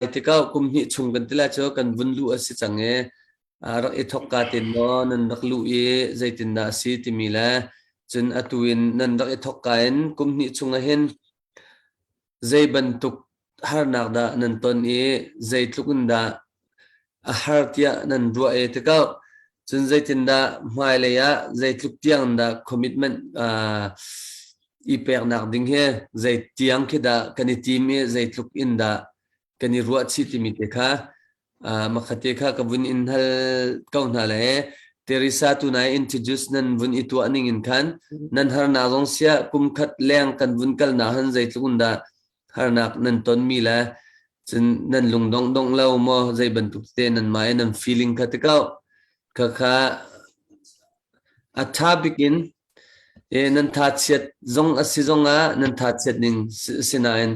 Tikah kum hnih chung kan tila cu kan vun luh a si cang i rak i thawk ka tin maw nan rak luh i zeitindah a si timi le cun atu in nan rak i thawk ka in kum hnih chung ah hin zei bantuk harnak dah nan ton i zeitluk in dah a har tiah nan ruah ee tikah cun zeitindah hmailei ah zeitluk tiang dah commitment aa i peknak ding hi zei tiang khi dah kan i tim i zeitluk in dah kan i ruah chih timi te kha aa makhatte kha ka vun in hal ko hna le Teresa tu nai introduce nan vun i tuah ning in khan nan harnak zong sia kum khat leng kan vun kalnak han zeitluk in dah harnak nan tonmi le cun nan lung dongdong lo maw zei bantuk te nan ma nan feeling kha te kau kha kha a tha bikin e nan tha chiat zong asi zong ah nan tha chiat ning sinain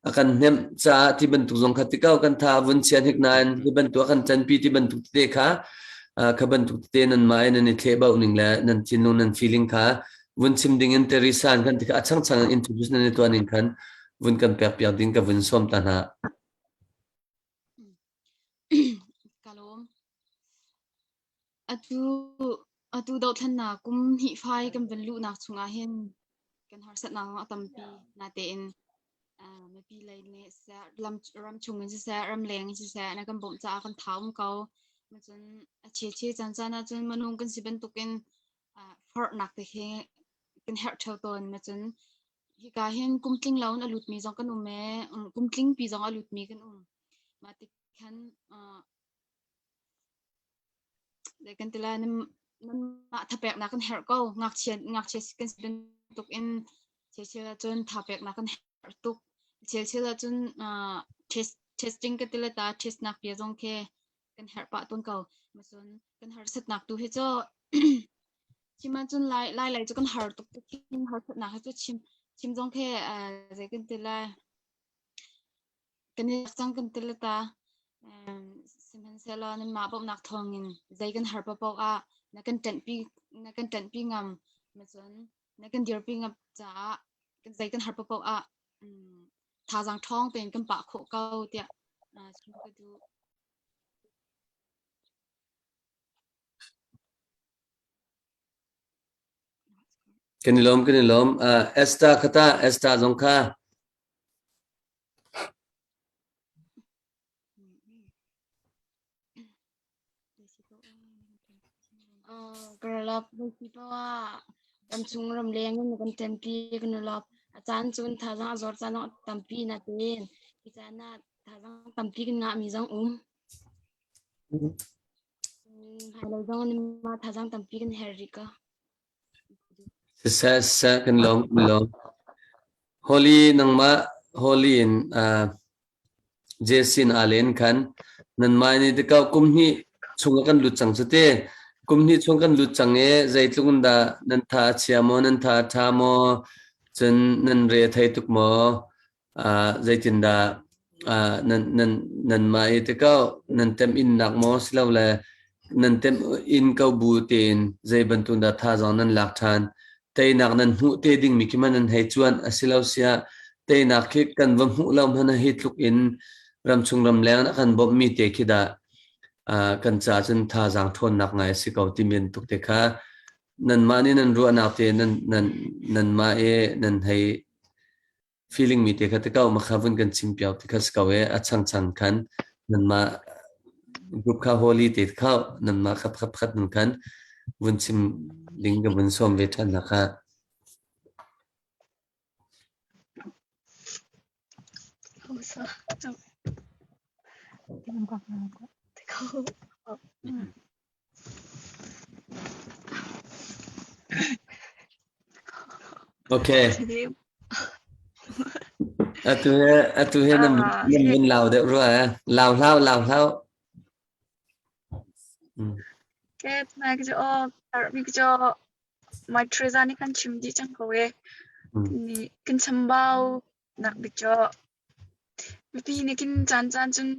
akan hnem cha ti bantuk zong kha ti kau kan tha vun chian hik nain hi bantuk kan chan pi ti bantuk te kha kha bantuk te nan ma nan i thle bau ning le nan tinu nan feeling kha vun chim ding in Teresa an kan ti kha a changchang in introduce nan i tuan ning khan vun kan pek piak ding ka vun sawm ta hna. Kalawm. Atu atu dothlanna kum hi fai kan van lu nak chungah hin kan harsat na a tampi na te in mapi lei ne se ram ram chung in se ram leng in se na kan bom cha kan thawm ko ma cun a che che chan chan a cun manung kan si bantukin forhnak te khi kan herh theo tawn na cun hika hin kum tling lo in a lut mi zong kan um e kum tling pi zong a lut mi kan um ma tik khan dai kan tila nan mah thapek na kan herh ko ngakchia ngakchia kan sin tuk in chechel cun thapek na kan herh tuk chechel cun testing ka tila ta test nak pia zong khe kan herh pah tawn ko macun kan harsatnak tu hi cu chim ahcun lai lai lai cu kan har tuk tuk harsatnak hi cu chim chim zong khe zei kan ti lai kan i cang kan ti ta sihmanhsehlaw nanmah bawmhnak thawngin zei kan har paoh ah na kan ṭanhpi na kan ṭanhpi ngam macun na kan dirpi ngam caah zei kan har paoh ah thazaang ṭhawng tein kan pah khawh ko tiah chim ka duh. Kan i lawm, kan i lawm. Uh, Esther kata, Esther zong kha. Karlap ah ramchung ramleng in kan ṭanpi kan i lawp. A caan cun thazaang a zor caan ah tampi na teen. Hi caan ah thazaang tampi kan ngahmi zong um. Hmailei zong mah thazaang tampi kan her rih ko. Siseh siseh kan lawm kan lawm. Holy nangmah holy in uh, Jesin aa len khan nanmah nih tikau kum hnih chung a kan lut cang cu ti. Kum hnih chung kan lut cang i zeitluk in dah nan tha a chia maw nan tha a tha maw cun nan re a thei tuk maw? zeitindah nanmah i tikau nan temh innak maw silole nan temh in ko bu tein zei bantuk dah thazaang nan lak ṭhan teinak nan hmuh te dingmi khi hmanh nan hei cuan a si lo siah teinak khi kan va hmuh lo hmanh hi tluk in ramchung ramleng a kan bawmhmi te khi dah kan ca cun thazaang ṭhawnnak ngai a si ko timi bantuk te kha nanmah nih nan ruahnak te nanmah i nan hei feeling mi te kha ti ko makha vun kan chim piau ti kha si ko e a chang chang khan nanmah group kha holy te kha nanmah kha pakhat pakhat nun khan vun chim ding ka vun sawm ve than na kha Hausa. Tikkun kwak na kwak. Tikko. Okay. Atu he atu he nan nan vun lau deuh rua eh. Lau hlau lau hlau. Ke tnai ki jo tar mi ki jo mai treza ni kan chim di chang ko e. Ni kin chambau nak bik jo. Mipi ni kin chan chan chun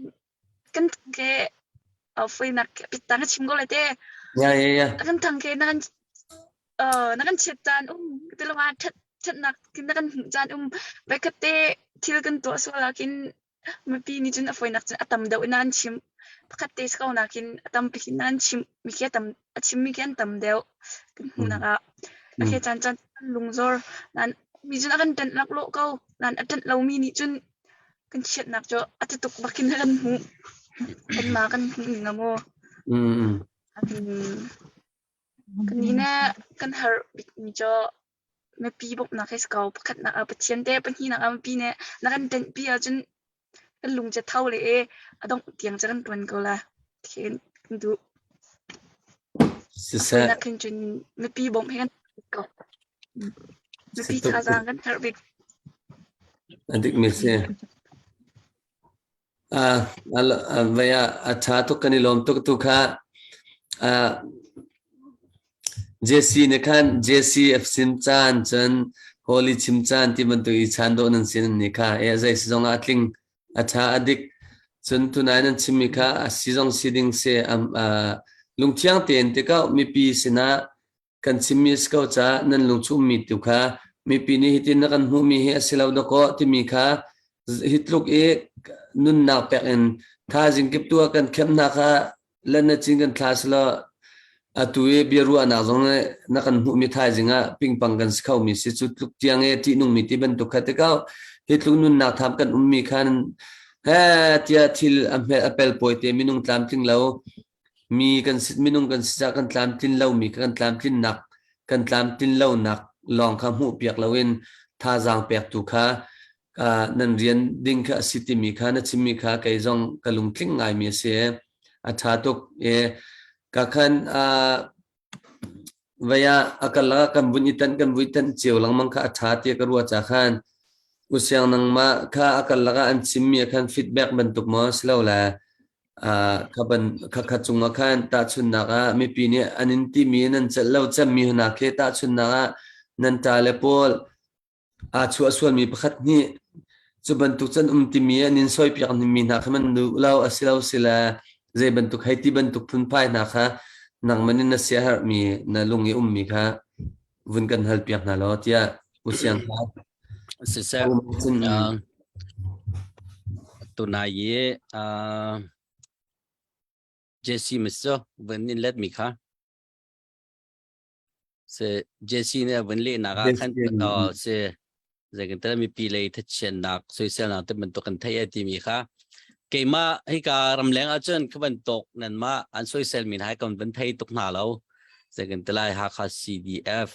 kan thang ke uh, foinak pitta na chim ko le te ya ya ya kan thang ke na kan uh, na kan chiat caan um te lung ah that thatnak kin na kan hmuh caan um vaikhat te thil kan to so lakin mipi ni cun a foinak cun a tam deuh nan chim pakhat te ko nakin a tam pikin nan chim mi ke tam A chimmi khi an tam deuh kan hmuhnak ah. A khi caan caan kan lungzor. Nain mi cun a kan ṭenh laklawh ko. Nain a ṭenh lomi nih cun kan chiatnak cu a ti tuk bak in kan hmuh. Kanmah kan hmuh ning a maw. A ti ning. Kan nih ne kan har bikmi cu Mipi bawmhnak hi si ko. Pakhatnak ah Pathian te, pahnihnak ah mipi nih na kan denhpi ahcun kan lung cu a tho le ee a dongh tiang cu kan ṭuan ko la thein kan duh. Siseh. Atunak hin cun mipi bawmh hi kan ko. Mipi thazaang kan herh bik. A dikmi si. Vai ah a ṭha tuk kan i lawm tuk tu kha Jesse nih khan Jesse a sim caan cun Holy chim caan ti bantuk i chan dawh nan sin ni kha e zei si zong ah a tling a ṭha a dik cun tunai nan chimmi kha a si zong si ding se lungthiang tein tikau mipi sinah Kan chim miss ko ca nan lungchummi tu kha mipi nih hitin na kan hmuhmi hi a si lo dakaw timi kha hi tluk i nunnak pek in thazing kip tu kan khemna kha lan na cin kan thla silo atu i bia ruahnak zong nih na kan hmuhmi thaizing ah pingpang kan si kho mi si cu tluk tiang e ṭihnungmi ti bantuk kha te kau hi tluk nunnak tham kan ummi khan he tia thil a pel pawi te minung tlamtling lo mi kan minung kan si kan tlamtlin lomi kan tlamtlinnak kan tlamtlin lonak lawng kha hmuh piak loin thazaang pektu kha nan rian ding kha a si timi kha na chimmi kha kei zong ka lungtling ngaimi a si a ṭha tuk e ka khan Vei ah a kal ah kan vun i tanh kan vui tanh cio lengmang kha a ṭha tiah ka ruah cakhan u siang nangmah kha a kal lakah an chimmi ah khan feedback bantuk maw si lo le uh, khaban khakha cungah khan tahchunnak ah mipi nih an in timi nan celh lo cemmi hna khi tahchunnak ah nan ta le paul Aa chuah sualmi pakhat nih cu bantuk can um timi an in sawipiak ningmi hna kha nan duh lo a si lo sile zei bantuk hei ti bantuk phunphai hna kha nangman in na siaherhmi na lung i ummi kha vun kan hal piak hna law tiah usiang kha siseh uh, tunai i uh, jesse misu vun in let mi kha se jesi ne vun le na ga khan to se ze kan tala mi pi le tha chen nak soisel na te man to kan thai ati mi kha keima hi ka ram leng a chun khaban tok nan ma an soisel min hai kon ban thai tuk na lo ze kan tala ha kha CDF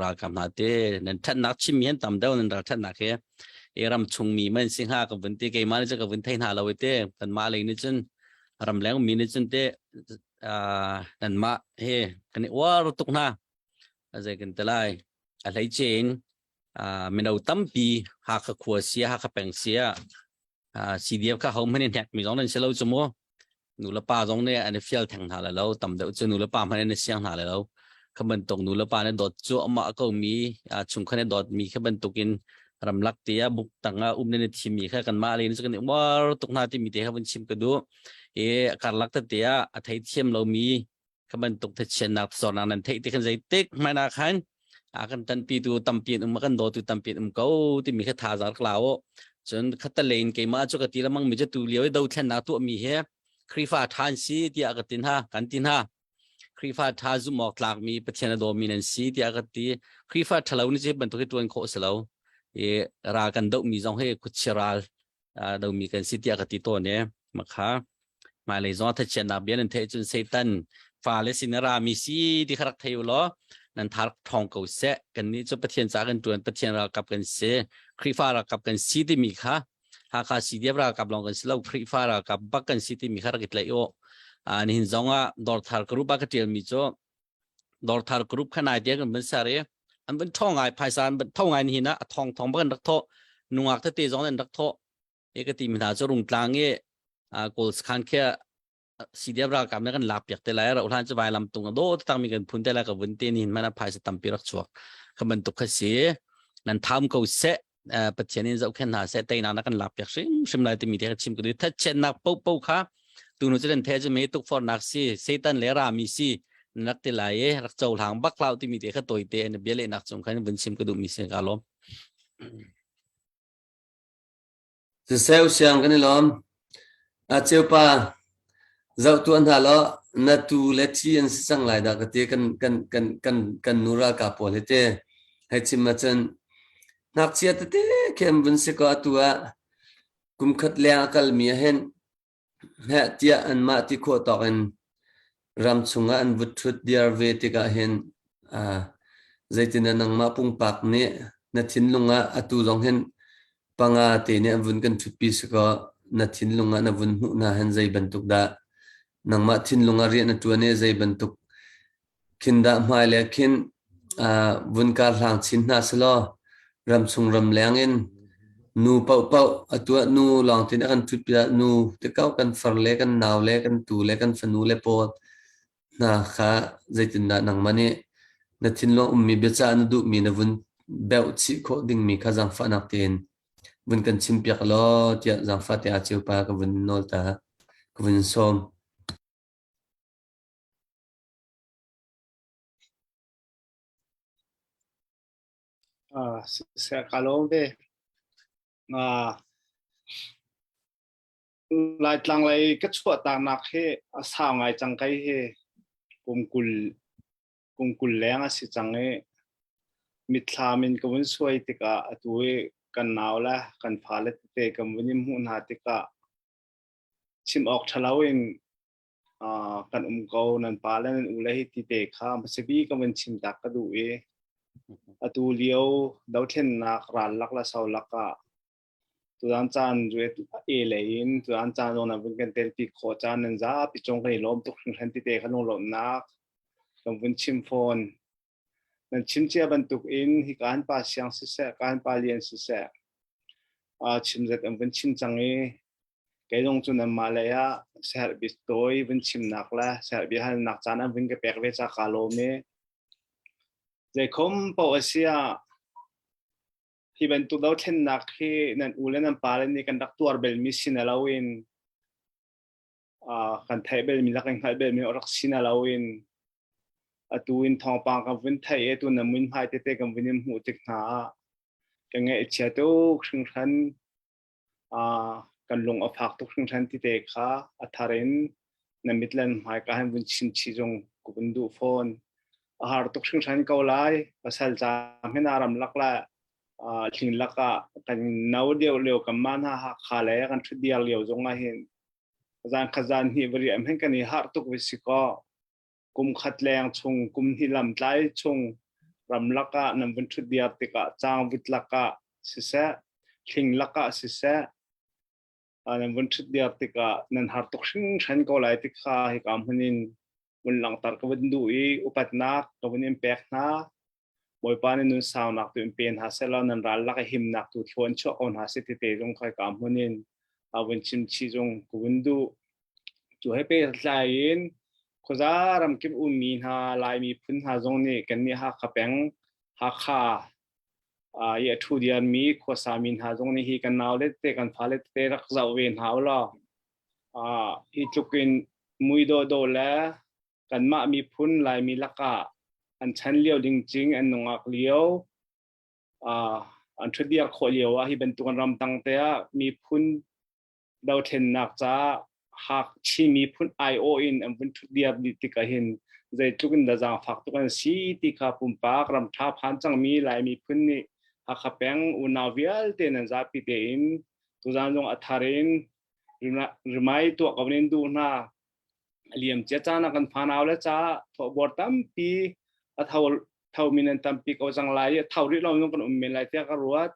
ra kam na te nan than nak chim mi han tam dau nan ra than na ke e ram chung mi man sing ha ka vun te keima ni ka vun thai na lo te kan ma le ni chun ram leng mi ni chun te uh, nanmah hi kan i uar tuk hna azai kan te lai a hlei chen uh, mino tampi hakha khua sia hakha peng sia uh, CDF kha hom han in hnek mi zong nan si lo chu mu nu le pa zong ne an i fial theng hna la lo tam deuh chu nu le pa hman an i siang hna la lo khaban tok nu le pa ne dot chu ama ko mi uh, chung khan dot mi khaban tukin ramlak te a buk tanga um ne thimi kha kan ma le ni kan uar tuk na ti mi te kha bun chim ka du i karlak tete ah a thei thiam lomi ka bantuk thatchiannak zornak nan theih ti kan zeitik hmaina khan a kan tanpi tu tampi an um a kan daw tu tampi an um ko timi kha thazar kla o cun khatalein keimah cu ka ti lamang mi cu tu lio i do thlennak tu mi he khrifa than si tiah ka tin ha kan tin ha khrifa tha zum awk tlak mi pathian a dawmi nan si tiah ka ti khrifa thalo ni ce bantuk hi tuan khawh selo i ra kan do mi zong he khuchiral domi kan si tiah ka ti tawn e makha hmailei zong tha chiatnak bia nan theih cun satan fa le sin ra mi si ti kharak thei lo nan thar thong ko se kan ni cu pathian ca kan tuan pathian ralkap kan si khrifa ralkap kan si ti mi kha hakha cdf ralkap long kan si lo khrifa ralkap bak kan si ti mi kha rakit lei o ani hin zong a dor thar kru ba ka tial mi chu Dorthar group khanai dia kan ban sare an ban thong ngai phaisa an ban thong ngai ni na thong thong ba kan rak tho nungak te te zong an rak tho e ka ti mi hna chu rung tlang e goals khan khe CDF ra kam na kan lap piak te lai ra ulan chu vai lam tung do tang mi kan phun te la ka vun te ni mana phaisa tam pi rak chuak ka ban tuk kha si nan tham ko se pathian in zohkhen hna seh teinak na kan lak piak hrimhrim lai timi te chim ka duh thatchiatnak popo kha tunu cu den the chu me tukfornak si satan le rami si nak ti lai e rak cho hlang bak lau timi te kha toi te en bia le nak chung khan vun sim ka duh mi se ka lom Siseh usiang kan i lawm. A ceu pa, zoh tuah hna law na tu le thi an si cang lai dah ka ti kan, kan, kan, kan, kan nu ralkap pawl hi te. Hei chim ahcun, ngakchia tete khem vun si kaw atu ah kum khat leng a kalmi ahin heh tiah anmah ti khawh tawk in ram chungah an vut thut diar ve tikah hin uh, zeitina nangmah pungpak nih na thinlung ah atu zong hin panga te nih an vun kan thutpi siko na thinlung ah na vun hmuh na hen zei bantuk dah nangmah thinlung ah riah na tuan i zei bantuk Khin dah hmai le khin vun kaa hlang chin hna selaw ramchung ramleng in nu paohpaoh a tuah nu lawng tin a kan ṭhut pinah nu te kauh kan far le kan nau le kan tu le kan fanu le pawl hna kha zeitindah nangmah nih na thinlung ummi biacah na duhmi na vun beuh chih khawh dingmi kha zangfahnak tein vun kan chimpiak law tiah zangfahte ah ceu pa ka vun nawl ta ka vun sawm. Ah, siya kalong te. Ah, Laitlang lei ka chuah tanak hi a sau ngai cang kai hi kumkul kumkul leng a si cang i mitthlam in ka vun suai tikah atu i kan nau le kan fale tete kan vun i hmuh hna tikah chim awk ṭhalo in kan um ko nan pa le nan u le hi ti te kha masibi ka van chim tak ka duh i atu lio dothlennak ral lak la sau lak ah tuan caan ruet e le in tuan caan on avin kan tel ti kho caan nan za pi chong kai lom tuk hran ti te khalung lom nak kan vun chim phone nan chinchiah bantuk in hi kan pa siang siseh kan pa lian siseh uh, chim zet an vun chin cang i kei lung cu nanmah lei ah serbi toi vun chimnak le serbi halnak caan an vun ka pek ve ca ka lawm i zeikhom po asia hi bantuk do thlennak hi nan u le nan pa le nih kan rak tuar bel mi sin alo in kan theih belmi le kan hngalh belmi rak si na loin atu in thawngpang kan vun thei e tu na mun hmai tete kan vun in hmuh tik hna kan ngai chia tuk hringhran kan lung a phak tuk hringhran ti te kha a tharen na mitlan hmai ka han vun chin chi zong ku bun du phone a har tuk hringhran ko lai pasal cha hmena ram lak la thing lakah kan no deu leo kan man ha ha kha le kan thu diar leo zong a hin zan kha zan hi veri am hen kan i har tuk vi si ko kum khat leng chung kum hi lam tlai chung ram laka nam van thu diar tikah chang vit laka si se thing laka si se nan vun ṭhut diar tikah nan har tuk hringhran ko lai ti kha hika hmun in vun langhter ka vun duh i upatnak ka vun in pek hna bawipa nih nun saunak tu in pe hna selaw nan ral lak i himnak tu thluan chuah ko hna si ti te zong kha hika hmun in a vun chimchi zong ka vun duh cu he pe tlai in khuza ram kim um mi hna lai mi phun hna zong nih kan nih hakha peng hakha i a ṭhu dianmi khuasa mi hna zong nih hi kan naule tete kan fale tete rak zoh ve hna u law hi tluk in mui dawdawh le kanmah miphun laimi lakah an chan lio ding cing an nungak lio an ṭhutdir khawh lio ah hi bantukan ram tang te ah miphun dothlennak ca hak Chinmi phun aiawh in an vun thut diam dih tik ahhin zeitluk in da zaangfak tuk an si ti kha pumpak ram tha phan cangmi Lai miphun nih Hakha peng unau vialte nan zapi tein tuzaan zong a thar in rimai tuah ko nin du hna liam cia ca na kan fanau le ca thawhbuar tampi a tho tho min an tampi ko zang lai i tho rih lo zong kan um men lai tiah ka ruat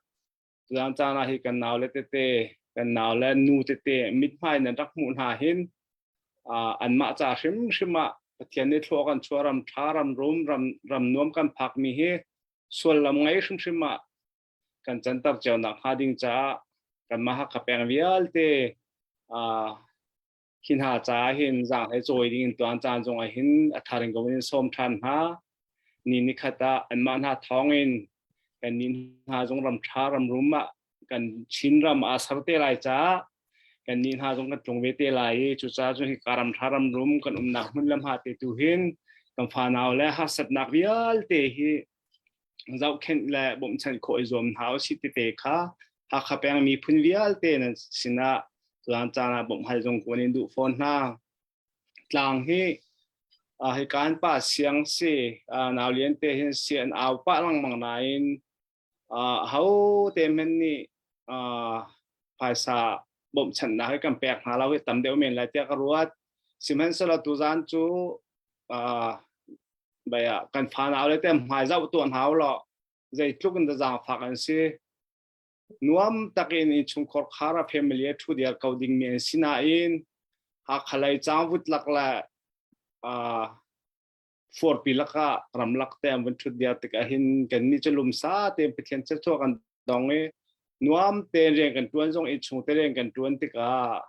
Tuzaan caan ah hi kan nau le tete, kan nau le nu tete mithmai nan rak hmuh hna hin an mah ca hrimhrim ah Pathian nih thlua kan chua ram tha ram rum ram ram nuam kan phak mi hi sullam ngei hrimhrim ah kan cantar cio nak hnga ding caah kan maha kapeng vialte Hi hna caah hin zang le cawi ding in tuan caan zong ah hin a thar in in sawm ṭhan hna. Ni ni khat ah anmah hna thawng in kan ni hna zong ram ṭha ram rum ah kan Chin ram a ser te lai caah kan ni hna zong kan tlung ve te lai i cucaah cun hi ka ram ṭha ram rum kan umnak hmun le ha te tu hin kan fanau le harsatnak vialte hi zohkhenh le bawmhchanh khawh i zuam hna u si tete kha Hakha peng miphun vialte nan sinah tuan caan ah bawmhhal zong kuan in duh fawn hna. Tlang hi uh, hi kan pa siang si uh, nau lian te hin si an au pa langmang nain uh, ho te men ni uh, phaisa bawmchan na hi kan pek hna lo hi tam deuh men lai tia ka ruat Sihmanhsehlaw tuzan cu baya kan fana le tem hmai zau tu hau lo zei tluk in da zaangfak an si nuam takin in chungkhor khara family a thu diar ko ding mi an si nain hakhalai changvut lak la forpi laka ramlak te am van thut dia tik ahin kan ni chu lum sa te pathian che cho kan dong i nuam te rian kan tuan zong i chung te rian kan tuan tikah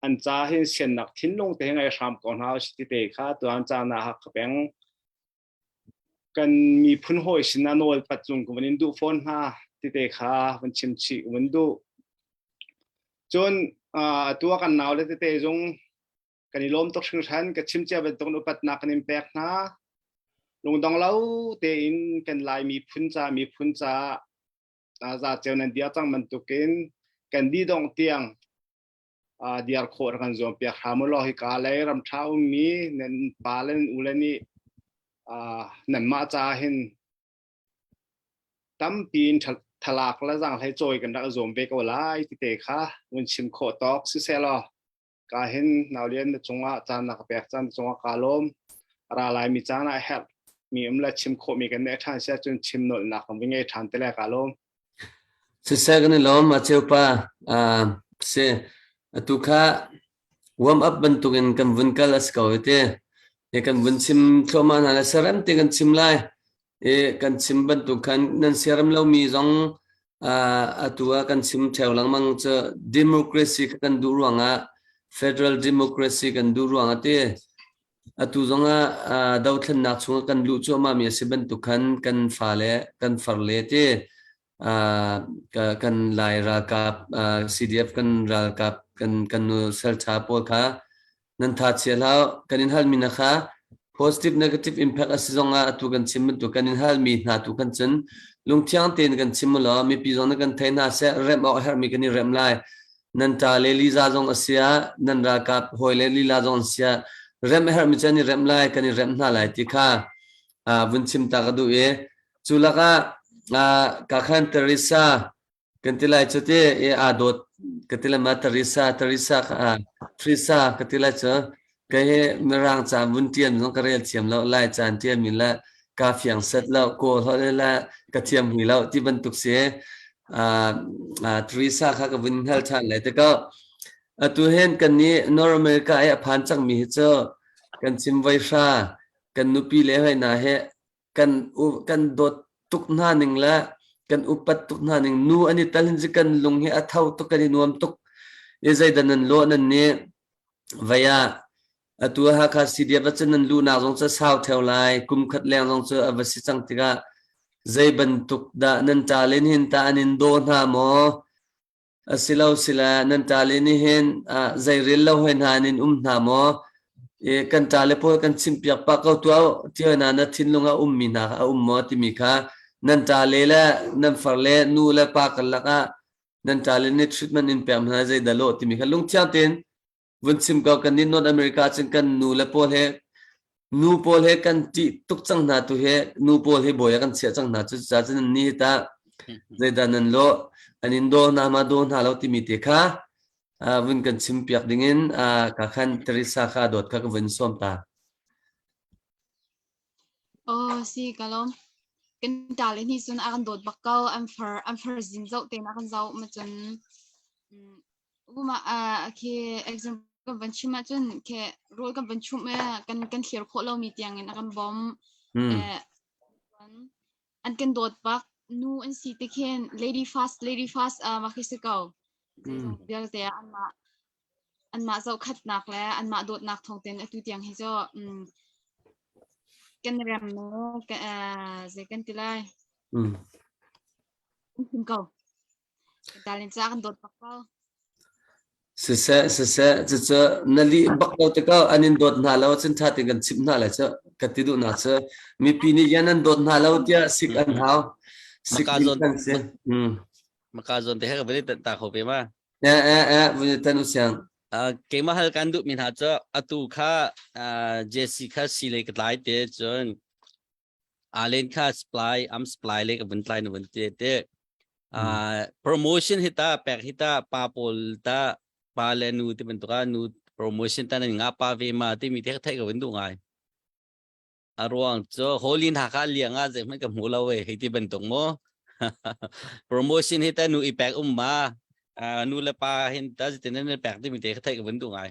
an ca hin siannak thinlung te ngai hram ko hna us ti te kha tuan ca na ha ka peng kan miphun hoi sina nawl pat cung ku in du phone ha ti te kha van chim chi un du chun tua kan naw le te te zung kan i lom tok hring shan ka chim chia ban tok upat na kan in pek na lungdong lo te in kan lai mi phun cha mi phun cha za cheu nan dia tang man tukin kan di dong tiang diar khawh rak kan zuam piak hram u law hika lei ram ṭha ummi nan pa le nan ule nih nanmah caah hin tampi in thalak le zanghlei cawi kan rak zuam ve ko lai tite kha vun chim khawh tawk siseh law ka hin naulian na cungah caan na ka pek caan na cungah ka lawm ra lai mi caan ah herh mi um le chim khawh mi kan ne ṭhan sia cun chim nolnak kan vi ngei ṭhan te le ka lawm Siseh kan i lawm a cheu pa. Aa si atu kha warm up bantuk in kan vun kal a si ko i ti. I kan vun chim thluahmah hna le siarem ti kan chim lai. I kan chim bantuk khan nan siarem lomi zong aa atu ah kan chim theo lengmang cu democracy kha kan duh ruangah federal democracy kan duh ruangah ti. Atu zongah uh, dothlennak chung kan luh cuahmahmi a si bantuk khan kan fale kan farle te uh, ka- kan Lai ralkap uh, CDF kan ralkap kan kan nu saltha pawl kha nan tha chia hlau kan in halmi na kha positive negative impact a si zongah atu kan chim bantuk kan in halmi hna tu kan cun lungthiang tein kan chim mu law mipi zong na kan thei hna seh remh awk a herhmi kan i remh lai nan ṭa le lila zong a siah nan ralkap hawi le lila zong an siah remh a herhmi cu an i remh lai kan i remh hna lai ti kha vun chim ta ka duh i cu lakah ka khan Teresa kan ti lai cu ti i aa dawt ka ti le ma Teresa Teresa Teresa ka ti lai cu Kei hi Mirang ca vun ṭian zong ka rel thiam loh, Lai caan ṭiami le ka fiang set loh, kaw hlawt le le ka thiam hwi loh ti bantuk si. Ah ah Teresa kha ka vun hngal ṭhan lai te ko. Atu hin kannih North America i a phan cangmi hi cu kan chimvoi hra, kan nupi le hoi hna hi kan kan dawt tuk hna ning le kan upat tuk hna ning nu an i tal hin ji kan lung hi a tho tuk kan i nuam tuk i zeidan nan law nan ni vaya atu hakha cdf cun nan lu nak zong cu sau theo lai kum khat leng zong cu a va si cang tikah zei bantuk dah nan ta len hin ta an in daw hna maw Asilosila nan ṭale nih hin ah zeirel lo hoi hna in um hna maw? I kan ṭale pawl kan chimpiak pah ko tuah u, ti hoi na na thinlung a ummi hna kha a um maw timi kha nan ṭale le nan farle nu le pa karlak ah nan ṭale nih treatment in pek hna zeidah lawh timi kha lungthiang tein vun chim ko kan nih North America cun kan nu le pawl he nu pawl he kan ṭih tuk cang hna tu he nu pawl he bawi a kan chiah cang hna cu ca cun ni ta zeidah nan lo an in daw hna ma daw hna lo timi te kha vun kan chim piak dingin ka khan Teresa kha dawt kha ka vun som ta Oh si kalom kan tal ni sun akan dawt bak ko an far an far zin zau ten akan zau ma cun Mah ah khi example kan van chim ahcun khi rawl kan van chumh i kan kan thlir khawh lomi tiangin a kan bawm. Mm. Eh, tuan, an kan dawt bak nu an si ti khin lady fast lady fast ah mah khi si ko. Zeizong Mm. vialte ah anmah anmah zohkhatnak le anmah dawtnak thawng tein atu tiang hi cu mm, kan rem nu ka, eh, zei kan ti lai, Mm. an him ko. Siseh, siseh, cucu na lih bak lo tikah an in dawt hna lo, cun ṭha tein kan chimh hna lai cu, ka ti duhnak cu. Mipi nih yan an dawt hna lo tiah sik an hau. Sik min kan si. Maka zawn te he ka vele ta kho ve ma. Eh eh eh, vele tan usiang. Keimah hal kan duh mi hna cu atu kha Jesse kha silei ka tlai te cun alen kha supply am supply le vun tlai na vun te te promotion hita pek hita pa pawl ta pa le nu te ban tuka nu promotion ta nan nga pa ve ma ti mi te thai ka vun du ngai aruang cho holin ha ka liang a je man ka mu lo we hei ti ban tung mo promotion hita nu ipek um ma nu le pa hin ta jiten nan pek ti mi te thai ka vun du ngai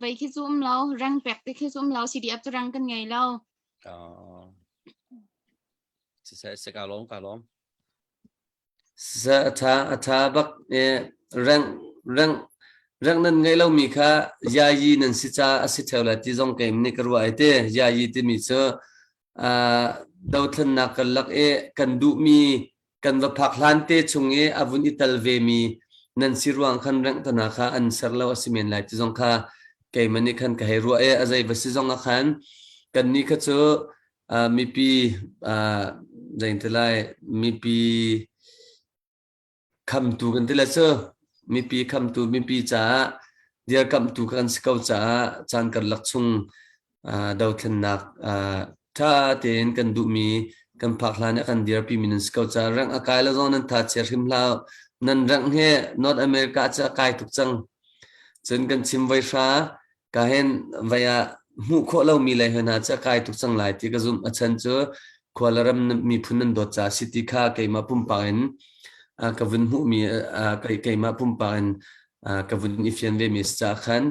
Vei khi cu um lo, rang pek te khi cu um lo, CDF cu rang kan ngei lo. Siseh si ka lawm ka lawm. Siseh atha atha bak rang rang rang nan ngei lomi kha yayi nan si ca a si theo le ti zong keim nih ka ruah ai te yayi timi cu dothlennak kan lak i kan duhmi kan va phak hlan te chung i a vun i tel vemi nan si ruang khan renghthana kha an ser lo a si men lai ti zong kha keiman nih khan ka hei ruah i a zei va si zong a khan kan ni kha cu mipi zeihnti lai mipi Khamtu kan ti le cu mipi khamtu mipi caah dirkamhtu kan si ko caah caan karlak chung dothlennak ṭha tein kan duhmi kan phak hlan i a kan dirpimi nan si ko caah rang a kai lo zong nan tha chia hrim hlah nan rang hi North America cu a kai tuk cang cun kan chim voi hra ka hen vai ah hmuh khawh lomi lei hna cu a kai tuk cang lai ti ka zumh a chan cu khuala ram miphun nan dawt ca si ti kha keimah pumpak in ka vun hmuhmi keimah pumpak in ka vun i fian ve mi si ca khan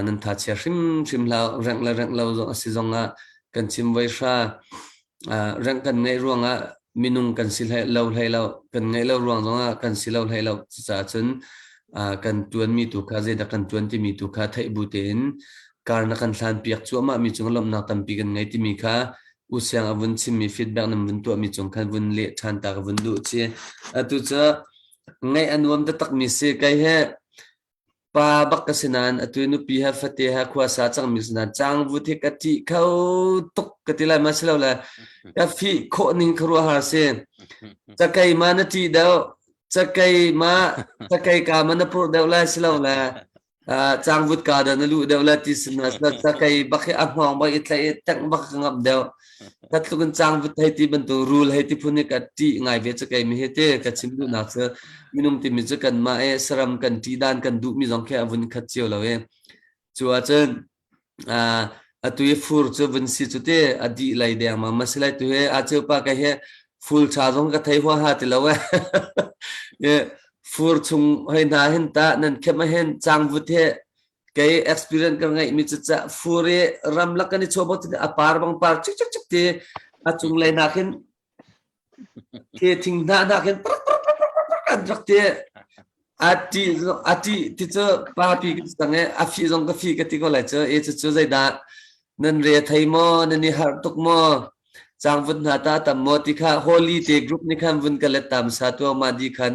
nan tha chia hrim hrim hlau rengh le rengh lo zong a si zong ah kan chim voi hra Uh, rang kan ngeih ruangah minung kan si hlei lo hlei lo kan ngei lo ruang zongah kan si lo hlei lo cucaah cun uh, kan tuan mi tu kha zeidah kan tuan timi tu kha theih bu tein kar na kan hlan piak cuahmah mi cung lawmhnak tampi kan ngei timi kha u siang a vun chim mi feedback nam vun tuah mi cung khan vun leh than ta ka vun duh chi atu cu ngaih a nuam taktak mi si kai he Pa bak ka si nain atu i nupi he fate he khuasa cangmi si nain cang vut hi ka ṭih kho tuk ka ti lai ma si lo le ka fih khawh ning kha ruahhar si cakei ma na ṭih deuh cakei ma cakei ka ma na purh deuh lai si lo le uh, cangvut ka da na lu deuh le ti si na cakei bak hi a hnawng bak i tlaih i tengh bak ka ngap deuh ka tluk in cang vut hei ti bantuk rul hei ti phun hi ka ti ngai ve cu kei mi hi ti ka chim duh nak cu minung ti mi cu kan mah e saram kan ti dan kan duh mi zong khi a vun khat cio lo e chu a cun a tu i fur cu vun si cu ti a di lei deng ma ma silai tu he a cheu pa ka he ful cha zong ka thei hwa ha ti lo e fur chung hei na hin ta nan khem hen chang vut he kei experience ka ngeih mi cu cah furi ramlak kan i chuah bot a par bang par cik cik cik ti a cung lei na khin thi thing na na khin an rak ti a ti a ti ti cu pa pi ka sang e a fi zong ka fi ka ti ko lai cu e cu cu zai da nan re thai mo nan ni har tuk mo chang vun na ta tam mo ti kha holy te group ni khan vun ka let tam sa tu ma di khan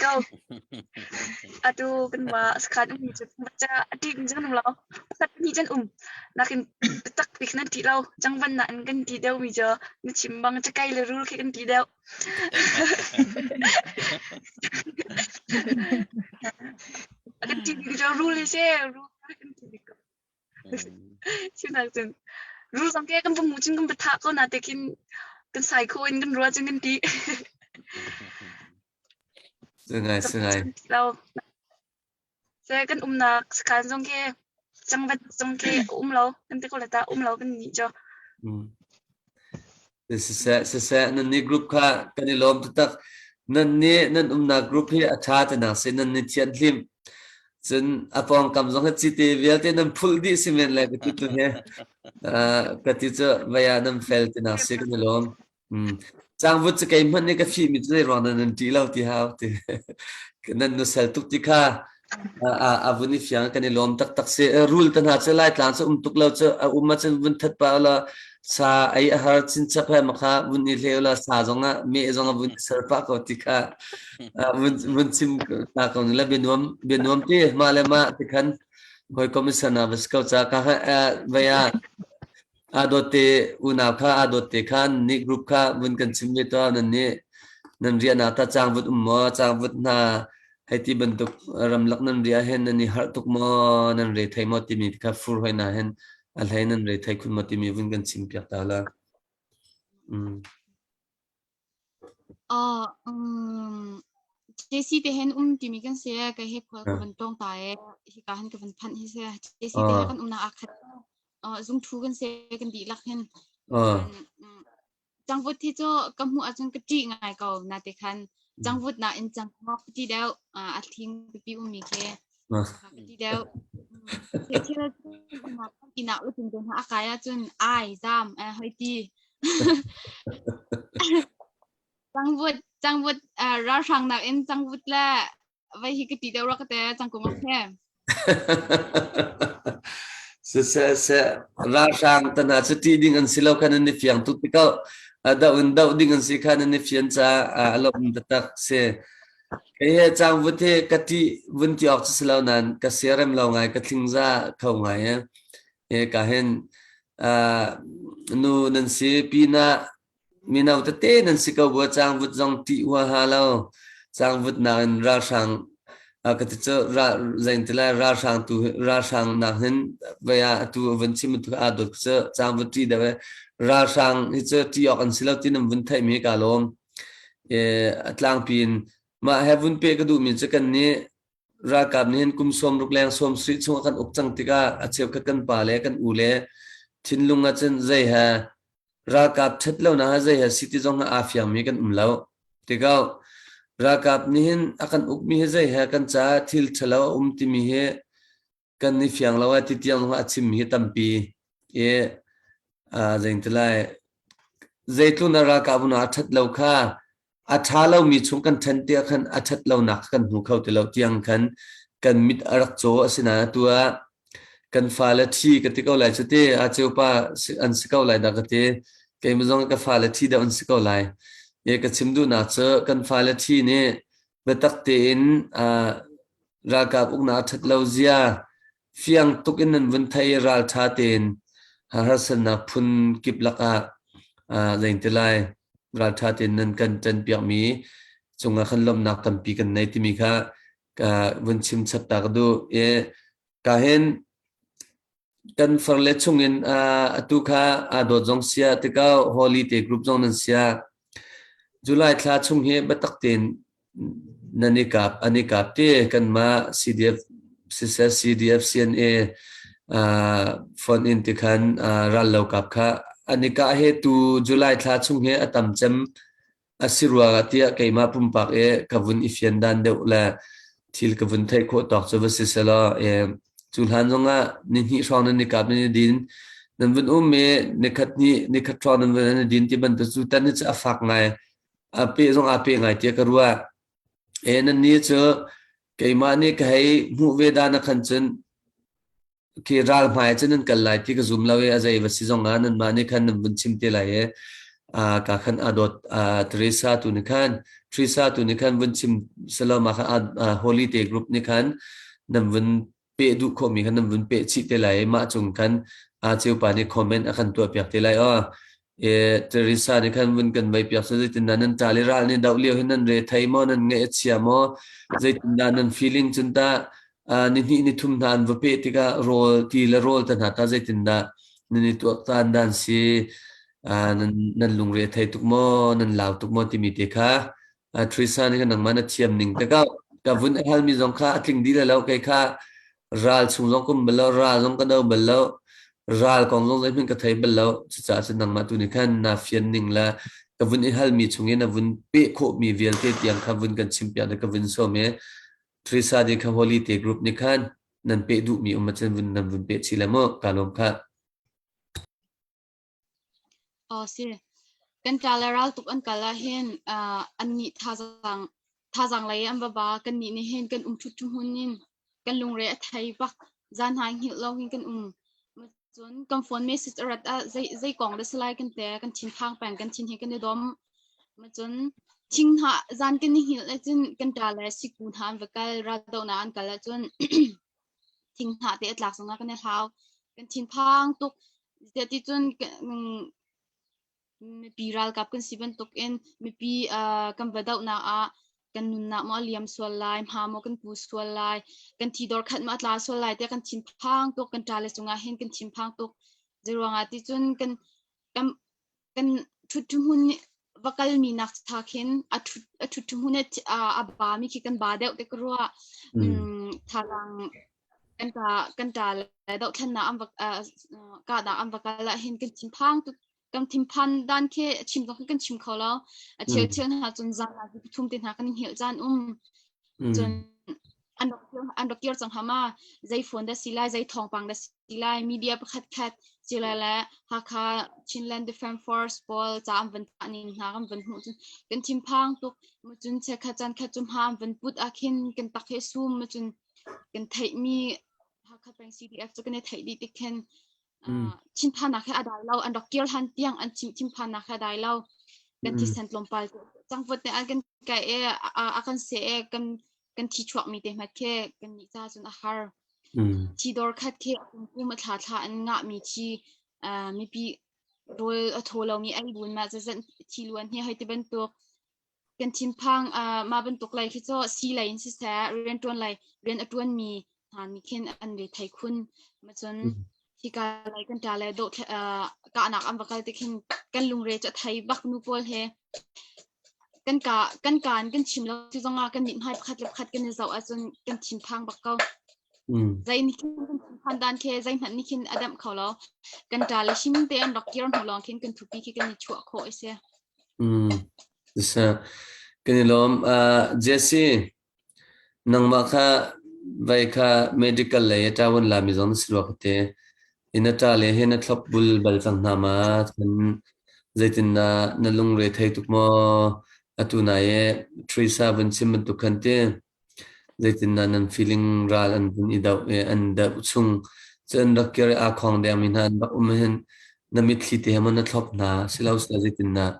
Ko. Atu kan wa sakhan um cu macha adik jang um lo. Pakhat hnih kan um. Nakin tak pik nan ti lo. Jangvan na kan ti deuh mi jo. Na chim bang ca kai le rul khi kan ti deuh. Kan ti mi jo rul le se rul kan ti mi ko. sinak cun ru zong ke kan pummu cun kan va thah ko na te khin kan sai kho in kan rua cun kan ti sungai sungai se kan umnak sekan zong ke changvat zong ke um lo kan te ko la ta um lo kan ni cho Siseh, siseh, nannih group kha kan i lawm taktak. Nannih nan umnak group hi a ṭha tinak si nan ni thianhlim. Cun a pawngkam zong hi cite vialte nan phulh dih si men le ka ti tu hi. Uh, ka ti cu vaya nan fel tinak si kan i lawm. Mm. Cangvut cu kei hmanh nih ka fihmi cu zei ruang nan nan ṭi lo ti hau ti. Nan nusel tuk ti kha A vun i fiang kan i lawm taktak si. Rul te hna cu Laitlang cu um tuk lo cu a um ahcun vun that pa ula sa ei a har chinchap he makha vun i hle ula sa zong ah meh zong ah vun i ser pah ko ti kha vun vun chim hna ko ni la bianuam bianuam ti mah le mah ti khan hawikom i sana va si ko ca ka ha vaya aa dawtte unau kha aa dawtte khan nih group kha vun kan chim ve tuah nan nih nan riahnak ta cang vut um maw cang vut hna hei ti bantuk ramlak nan ria hen nan i harh tuk maw nan re thei maw timi kha fur hoi na hen a hlei nan re thei khun maw timi vun kan chim piak ta la mm. Ah, um, JC te hen um timi kan se ka he khual ka van tong ta e hi ka han ka van phanh hi se JC te he kan um na akhat uh, zung thu kan se kan di lak hen then changvut thi cho ka mu achun ka ti ngai ko na te khan changvut na in chang ngok ti deu a thing pi um mi ke Ka ti deuh. Thil cu inn ah utin ding a kai ahcun ai zam hoi ti. Cangvut cangvut ralhrang nak in cangvut le vai hi ka ti deuh rak te cangkung ok he. Se se se ralhrang tana se ti ding an si lo kan an ni fiang tu tikau da un da ding an si khan an ni fian cha a lo um ta tak se Kei he cang vut hi ka ṭih vun ti awk cu si lo nain ka siarem lo ngai, ka tlingza kho ngai i hika hin uh, nu nan si, pinah mino tete nan si ko bua cang vut zong ṭih huaha lo. Cang vut nakin ralhrang uh, ka ti cu ral zein ti lai ralhrang tu ralhrang nak hin vai ah atu vun chim tu aa dot cu cang vut ṭi deuh i ralhrang hi cu ṭi awk an si lo ti nan vun theihmi ka lawm. a tlangpi in mah he vun pe ka duhmi cu kan nih ralkap nih hin kum sawm ruk leng sawm suih chung a kan uk cang tikah a cheukhat kan pa le kan u le thinlung ah cun zei ha ralkap ṭhet lo na zei ha si ti zong aa fiangmi kan um lo tikau ralkap nih hin a kan ukmi hi zei he kan caah thil ṭhalo a um timi hi kan i fiang lo ah titiang a chim hi tampi i zeingti lai zeitlun a ralkap na a ṭhat lo kha a ṭha lomi chung kan ṭhen tiah khan a ṭhat lonak kan hmu kho ti lo tiang khan kan mit a rak caw a si na tu ah kan fale thi ka ti ko lai cu ti a ceu pa an si ko lai da ka ti keimah zong ka fale thi deuh an si ko lai ye ka chim duh na cu kan fale thi nih biatak tein ralkap uknak ṭhat lo zia fiang tuk in nan vun thei ralṭha tein harsatnak phun kip lakah lengte lai ralṭha tein nan kan ṭanpiakmi cungah khan lawmhnak tampi kan nei timi kha vun chim chap ta ka duh i ka hin Kan farle chungin uh, atu kha aa dawt zong sia tikah holiday group zong nan sia. July thla chung hi biatak tein nan i kap an i kap te kanmah CDF sisal CDF CNA uh, phone in ti khan uh, ral lo kap kha an i ka he tu July thla chung he atam cem A si rua tiah keimah pumpak i ka vun i fian dan deuh le thil ka vun theih khawh tawk cu va si selaw e, cu hlan zong ah ni hnih hrawng nan i kap nan i din nan vun um i nikhat ni nikhat hrawng nan vun nan i din ti bantuk cu tan hi cu a fak ngai a pe zong a pe ngai tia ka rua e nan ni cu keimah nih ka hei hmuh ve dan a khan cun Okay, ral hmai cun nan kal lai ti ka zum lo i a zei va si zong ah nanmah nih khan nan vun chim te lai i uh, ka khan adot uh, Teresa tu ni khan Teresa tu ni khan vun chim saloma khan uh, holiday group ni khan nan vun pe du kho mi khan nan vun pe chi te lai mah cung khan a cheu pa nih comment a khan tuah piak te lai o E Teresa nih khan vun kan mei piak seh zeitindah nan ṭal i ral nih doh lio hin nan re thei maw nan ngaih a chia maw zeitindah nan feeling cun tah uh, nihnih nithum hna an va peh tikah rawl ti le rawl te hna kha zeitindah nan i tuaktan dan si uh, nan nan lungre thei tuk maw nan lau tuk maw timi te kha A thuisa nih khan nangmah na thiam ning tikah ka vun a halmi zong kha a tling dih lai lo. Kei kha ral chung zong ka um bal lo, ral zong ka no bal lo, ral kong zong zeihmanh ka thei bal lo. Cucaah cun nangmah tu nih khan naa fian ning le ka vun i halmi chungin a vun peh khawhmi vialte tiang kha vun kan chim piak na ka vun sawm i thuisa nih kha holiday group nih khan nan peh duhmi um ahcun vun nan vun peh chih le mu. Kaa lawm khah. Aw si. Kan ṭa le raltuk an kal ahhin uh, annih thazaang, thazaang lei an va ba. Kannih nih hin kan um ṭhutṭhu hmun in kan lungre a thei bak. Zan hna hngilh lo hin kan um. Cun kan phone message a rat ah zei, zei kong dah si lai kan te. Kan thinphang peng. Kan thin hi kan i dom. Cun thinghnah zan kan i hngilh ahcun kan ṭa le siku hna an va kal. Raldohnak an kal ahcun thinghnah te a tlak zongah kan i hlau. Kan thinphang tuk. Tiah mipi ralkap kan si bantukin mipi kan va dohnak ah kan nunnak maw a liam sual lai, hma maw kan pu sual lai, kan thi dor khat maw a tla sual lai, tiah kan thinphang tuk. Kan ṭa le cungah hin kan thinphang tuk. Zeiruangah ticun kan kan ṭhuthmun va kalmi nak tha khin a ṭhuthmun a bami khi kan ba deuh te ka ruah thalang kan ta kan ta le doh thlan na am ka da am va kala hin kan thinphang tu kan thinphan dan khe chim dong kan chim kho lo a thil thil hna cun zan na thum te hna kan hil chan um cun an rak kir cang hama zei phone da si lai zei thawngpang da si lai media pakhat khat cila le hakha chinland defense force pawl ca an van tah ning hna kan van hmuh cun kan thim phang tuk mu cun che kha chan kha cum ha an van put a khin kan tak he sum mu cun kan theih mi hakha peng CDF cu kan i theih dih tik khin chin pha na khe adai lo an rak kir han tiang an chim thim pha na khe dai lo kan thi san tlom pal cang vot ne an kan kai e a kan se e kan kan thi chuakmi te hmat khi kan nih ca cun a har. Mm. Thi dor khat khi kum a thla thla an ngahmi thi uh, mipi rol a tho lo ni ai bun ma zazan thi luan hi hoi te bantuk kan thinphang uh, ma bantuk lai khi cho si lai in si sa rian tuan lai rian a tuan mi hna nih khin an ve thai khun ma cun hika lai kan ṭa le dawh kahnak an va kal ti khin kan lungre cu a thei bak nu pawl he kan ka kan kaan kan chim lo ti zongah kan mit hmai pakhat le pakhat kan i zoh ahcun kan thinphang bak ko zei nih khin kan thinphan dan khi zei hmanh nih khin a damh kho lo kan ṭa le him te an rak kir hnu lawng khin kan thupi khi kan i chuah khawh a si. Kan i lawm Jesse Nangmah kha vai kha medical lei a ṭaoan lami zong na si rua ka ti. I na ṭa le hi na thlop bul bal cang hna ma? Cun zeitindah na lungre thei tuk maw? Atu nai i ṭhuisa vun chim bantuk khan ti. Zeitindah nan feeling ral an vun i doh i an doh chung cun rak kir i aa khawng dengmi hna an rak um ahhin na mitthli te he maw na thlop hna? Si lo seh, zeitindah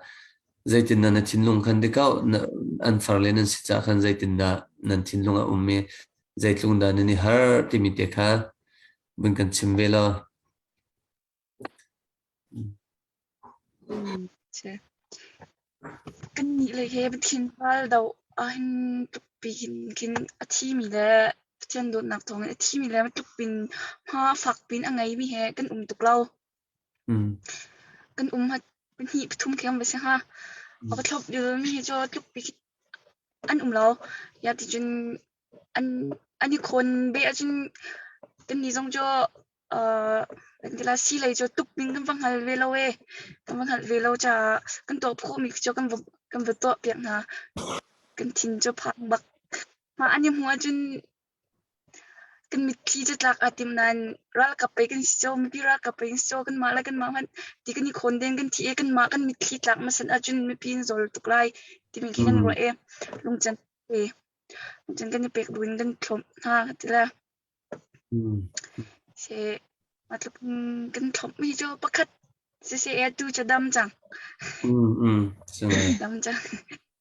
Zeitindah na thinlung khan tikauh na an far le nan si caah khan zeitindah nan thinlung a um i zeitluk dah nan i har timi te kha vun kan chim ve law. Mm, છે kannihle he Pathin ral do ahin tuk piin kin a thimi le Pathian dawtnak thawngin a thimi le tluk pin hma fak pin a ngei mi he kan um tuk lo. Kan um a pahnih pathum khem a si hnga. A va thlop mi hi cu tluk bik an um lo. Ya ticun an an i khawn ve ahcun kannih zong cu aa kan ti la sii lei cu tuk ding kan va hngal ve lo i kan va hngalh ve lo caah kan tuah khawh mi cu kan va kan va tuah piak hna. Kan thin cu phang bak. Mah an i hmuh ahcun Kan mitthli catlak aa tim nain ralkap pei kan si caw, mipi ralkap pei kan si caw, kanmah le kanmah hmanh ti kan i khawn deng kan thi i kanmah kan mitthli tlak hmasat ahcun mipi in zawl tuk lai timi khi kan ruah i lungcan pe lungcan kan i pek bu in kan thlawp hna ka ti le si matluk in kan thlawp mi cu pakhat siseh atu cu a dam cang dam cang.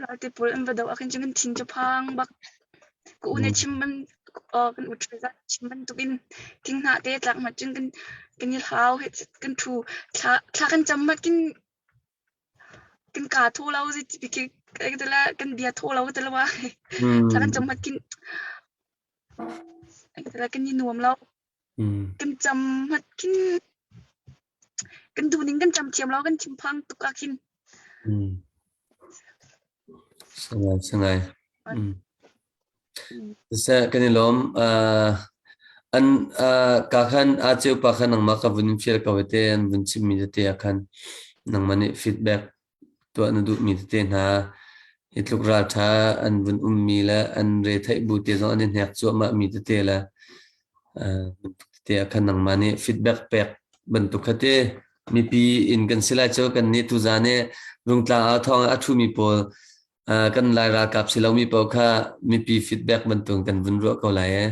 Raltipul an va doh ahkhin cun kan thin cu phang bak. Ka u nih chim ban kan u ṭha zat chim bantuk in thinghnah te tlak mat cun kan kan i hlau heh kan ṭhu. Thla thla kan cam mat kin kan kaa thaw lo zit bikik kan bia thaw lo ka ti lo ai. Thla kan cam mat kin kan i nuam lo. Kan cam mat kin Kan duh ning kan cam thiam lo, kan thinphang tuk ah khin. Sangai, sangai. Siseh kan i lawm. An ka khan a ceu pa khan nangmah ka vun in fial ko te an vun chim mi te ah khan nangmah nih feedback tuah na duhmi tete hna hi tluk ralṭha an vun ummi le an retheih bu te zong an i hnek cuahmahmi tete le uh, tete a khan nangmah nih feedback pek bantuk kha mipi in kan si lai cu kan nih tuzan nih rungtlang a thawng a ṭhumi pawl uh, kan lai ralkap si lomi pawl kha mipi feedback bantuk kan vun ruah ko lai e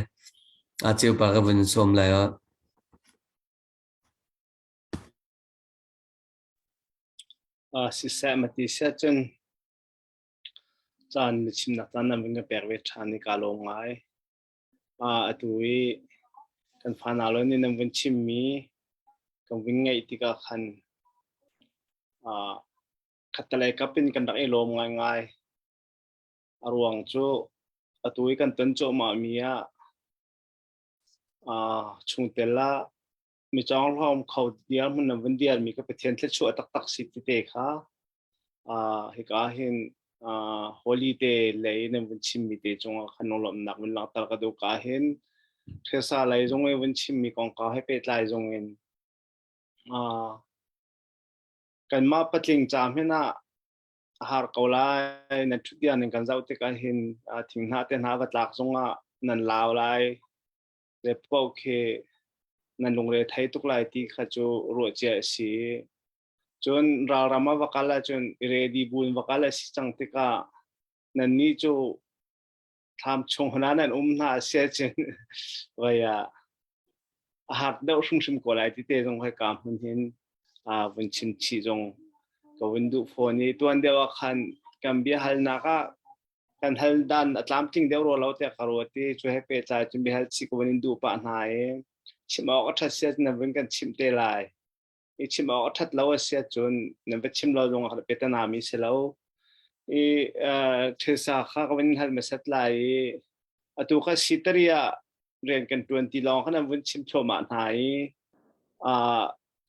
a ceu pa ka vun sawm lai o Siseh mati seh cun caan na chimnak caan ah vun ka pek ve ṭhan i kaa lawm ngai. Atu i kan fanau le nih nan vun chimmi kan vun ngaih tikah khan khattelei kap in kan rak i lawm ngaingai. A ruang cu atu i kan ton cuahmahmi ah chungtel ah mi chong hlom kho dia mun na vun dial mi ka pathian thlet chu taktak si ti te kha a hi ka hin holy day lei na vun chim mi te chunga khanong lom nak vun lang tal ka du ka hin thesa lai zong e vun chim mi kong ka he pe tlai zong in a kan ma patling cham hin a har ko lai na thu dia ning kan zau te ka hin thing na te na va tlak zonga nan law lai le paoh khi nan lungre thei tuk lai ti kha cu ruahcia a si cun ralram a va kal ahcun i ready buin va kal a si cang tikah nannih cu thlam chung hna nan um hna a sia cin vaya a hak deuh hrimhrim ko lai ti te zong hoi ka hun hin a vun chim chi zong ka vun duh phone i tuan deuh ah khan kan bia hal nak ah kan hal dan a tlamtling deuh rua lo tiah ka ruat i cu he pehtlai cun biahal chih ko in duh pah hna i chim awk a ṭhat siat na vun kan chimh te lai i chim awk a ṭhat lo a siat cun na va chim lo zong ah petanami si lo i thilsa kha ka vun hal masat lai i atu ka si tari ah rian kan ṭuan ti lawng kha na vun chim thluahmah hna i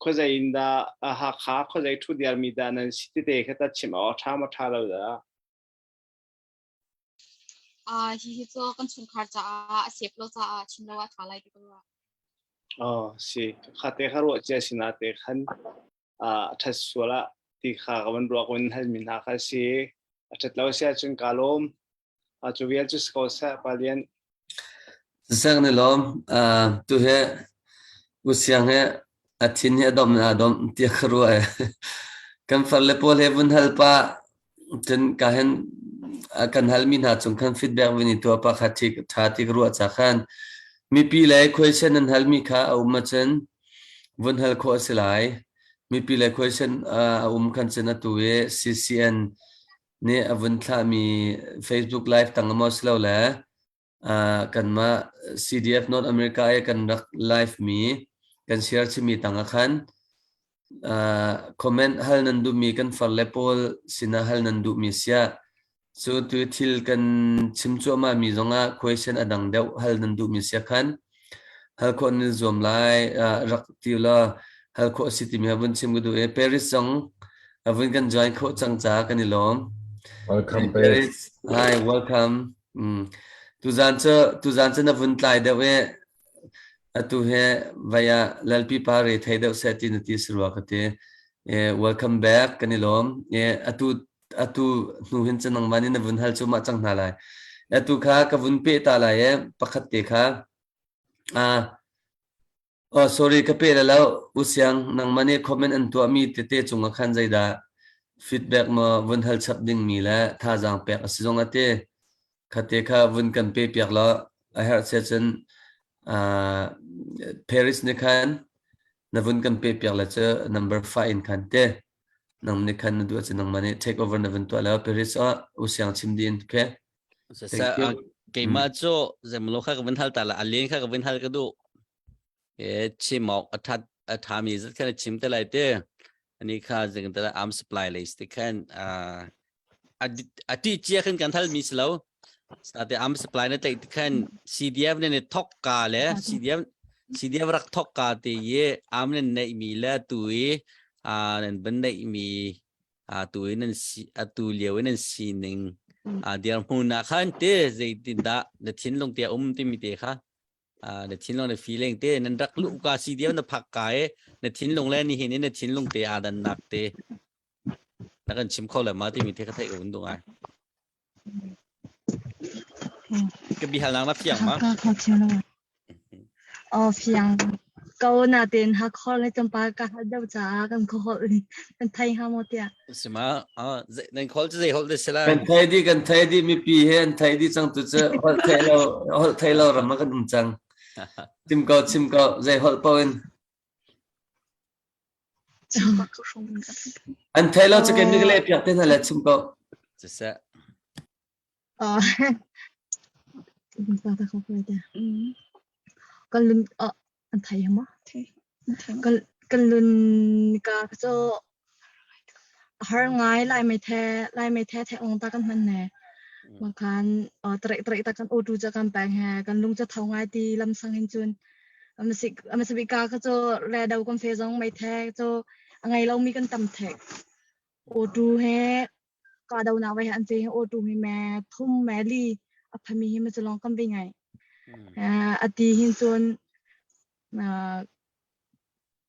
khuazei in dah Hakha khuazei ṭhu diarmi dah nan si tete kha ta chim awk a ṭha ma ṭha lo dah Hihi cu kan chungkhar caah a sep lo caah chimlo ah ṭha lai ti ka ruah. Oh si kha te kha ruah cia si na te khan a ṭhat sual ah ti kha ka van ruak in hal mi hna kha si a ṭhat lo si ahcun ka lawm a cu vial cu si ko seh palian Zek nih lawm tu hi usiang hi a thin hi a domh in aa domh tiah ka ruah i kan far le pawl he vun hal pah cun ka hin kan halmi hna cung khan feedback vun i tuah pah kha ṭha ti ka ruah cak han. Mipi le question an halmi kha a um ahcun vun hal khawh a si lai. Mipi le question a um khan cun atu i CCN nih a vun thlahmi Facebook Live tang maw si lo le uh, kanmah CDF North America i kan rak live mi kan share chimi tang a khan uh, comment hal nan duhmi kan far le pawl sina hal nan duhmi sia cu tu thil kan chim cuahma mi zongah question adang deuh hal nan duhmi sia khan hal khawh nan zuam lai rak ti law hal khawh a si timi a vun chim ka duh i Paris zong a vun kan join khawh cang ca kan i lawm welcome Paris hi welcome tuzan cu tuzan cu na vun tlai deuh i atu he vaya lalpi pa re thei deuh seh ti na ti sarua ka ti welcome back kan i lawm atu atu hnu hin cu nangmah nih na vun hal cuahmah cang hna lai. Atu kha ka vun peh ta lai i pakhat te kha uh, oh, sorry ka peh la lo usiang nangmah nih comment an tuahmi tete cungah khan zeidah feedback ma vun hal chap ding mi le thazaang pek a si zong a ti khate kha vun kan pe piak lo a herh che cun uh, Paris ni khan na vun kan pe piak la cu number 5 in khan te nang nih khan na duh cun nangmah nih take over na vun tuah lo Paris ah u siang chim dih in okay sa keimah cu zemlo kha ka vin hal ta la alien kha ka vin hal ka du e chimok athat athami zat khan chim te lai te ani kha zing ta am supply list khan a ti chia khin kan thal mi si lo tate am supply na tek ti khan CDF ne thok ka le CDF CDF rak thok ka te ye am ne nei mi le tu i a nan ban nei mi a tu in nan si a tu liu in nan si ning a dir mu na khan te zei tin da na thin lung te um ti mi te kha a na thin lung na feeling te nan rak lu ka CDF na phak ka e na thin lung le ni hin na thin lung te adan nak te Na kan chim kho le ma timi te ka theih ka vun tung ai. Ka bihal nang na fiang ma? Ka ka chim o fiang ko na ten ha khor le cham pa ka ha dau cha kan kho hol kan thai ha mo tia Sima, ah, ze- nan khol chu zei hol de sela. kan thai di kan thai di mi pi he an thai di chang tu chu hol thai lo hol thai lo ram kan um chang tim ko chim ko zei hol po in An theih lo cukin na ka lehpiak te hna le chim ko. Siseh. Kan lun an thai ma? Kan lun ka ka cho har ngai lai mai the lai mai the the ong ta kan man ne. Mangkan trek trek ta kan otu cha kan pang he kan lung cha thau ngai ti lam sang in chun amasibi ka kha cho le do kom fe jong mai the cho angai lo mi kan tam the o tu he ka do na wai han te o tu mi me thum me li aphami hi ma chalong kam bi ngai ati hin chun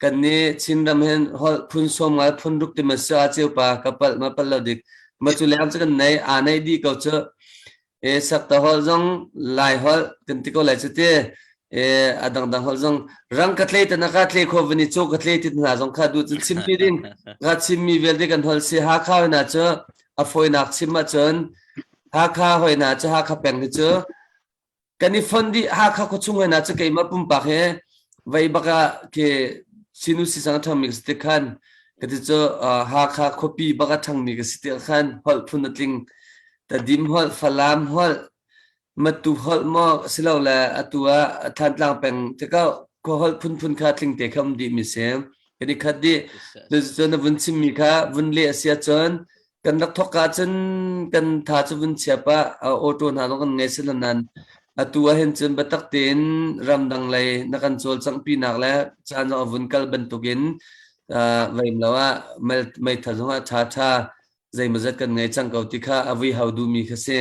kan nih Chinram hin holh phun sawm ngai phun ruk ti ma sa ceu pa ka pal ma pal lo dik ma cu leng cu kan nei a nei di ko chu e sakta holh zong lai holh kan ti ko lai chu te e a dang dang holh zong rang ka tlei tana ka tlei kho vani cho ka tlei tin hna zong kha du cun chim pi ding ka chim mi vel kan holh si ha kha na chu a foi nak chim ma chun ha kha hoi na chu ha kha peng hi chu kan i fon dih Hakha khuachung hen ah cu keimah pumpak he vei bak ah ke sinu sisang a ṭhangmi ka si tik khan ka ti cu Hakha khuapi bak a ṭhangmi ka si tik ah khan holh phun a tling Tadim holh, Falam holh, Matu holh maw asilole atu ah Thantlang peng tikah khua holh phunphun kha tling te kha um dih mi si. Kan i khat dih. Cuticun a vun chimmi kha vun leh a si ahcun kan rak thawk ahcun kan tha cu vun chiap ah auto hna zong kan ngei si lo nain atu ahhin cun biatak tein ramdang lei na kan cawlcangh pinak le caan a vun kal bantukin veimlo ah meitha zong ah ṭha ṭha zeimazat kan ngei cang ko ti kha a vui hau duhmi kha si.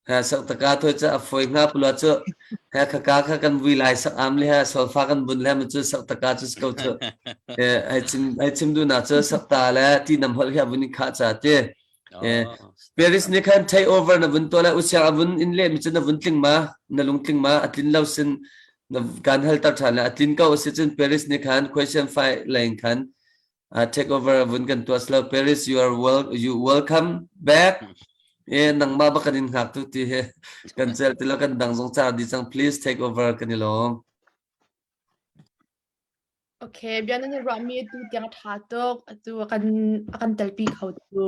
Ha sak taka thawi cu a foi hna pula cu he khaka kha kan vui lai sak am le he solfa kan bun le ma cu sak taka cu ko cu e ai chim ai chim du na cu sak ta le ti nam hol hi avun kha cha ti e Paris ni khan take over na vun to le usiang avun in le mi cu na vun tling ma na lung tling ma atlin lo sin na kan hal tar than le atlin ko si cun Paris ni khan question five line khan uh, take over vun kan tuas lo Paris you are wel you welcome back eh nangma ba kan in hngak tu ti he kan cel ti lo kan dang zong cha di sang please take over kan i lom Okay, bian an rami tu tiang tha tuk tu kan akan telpi kho tu.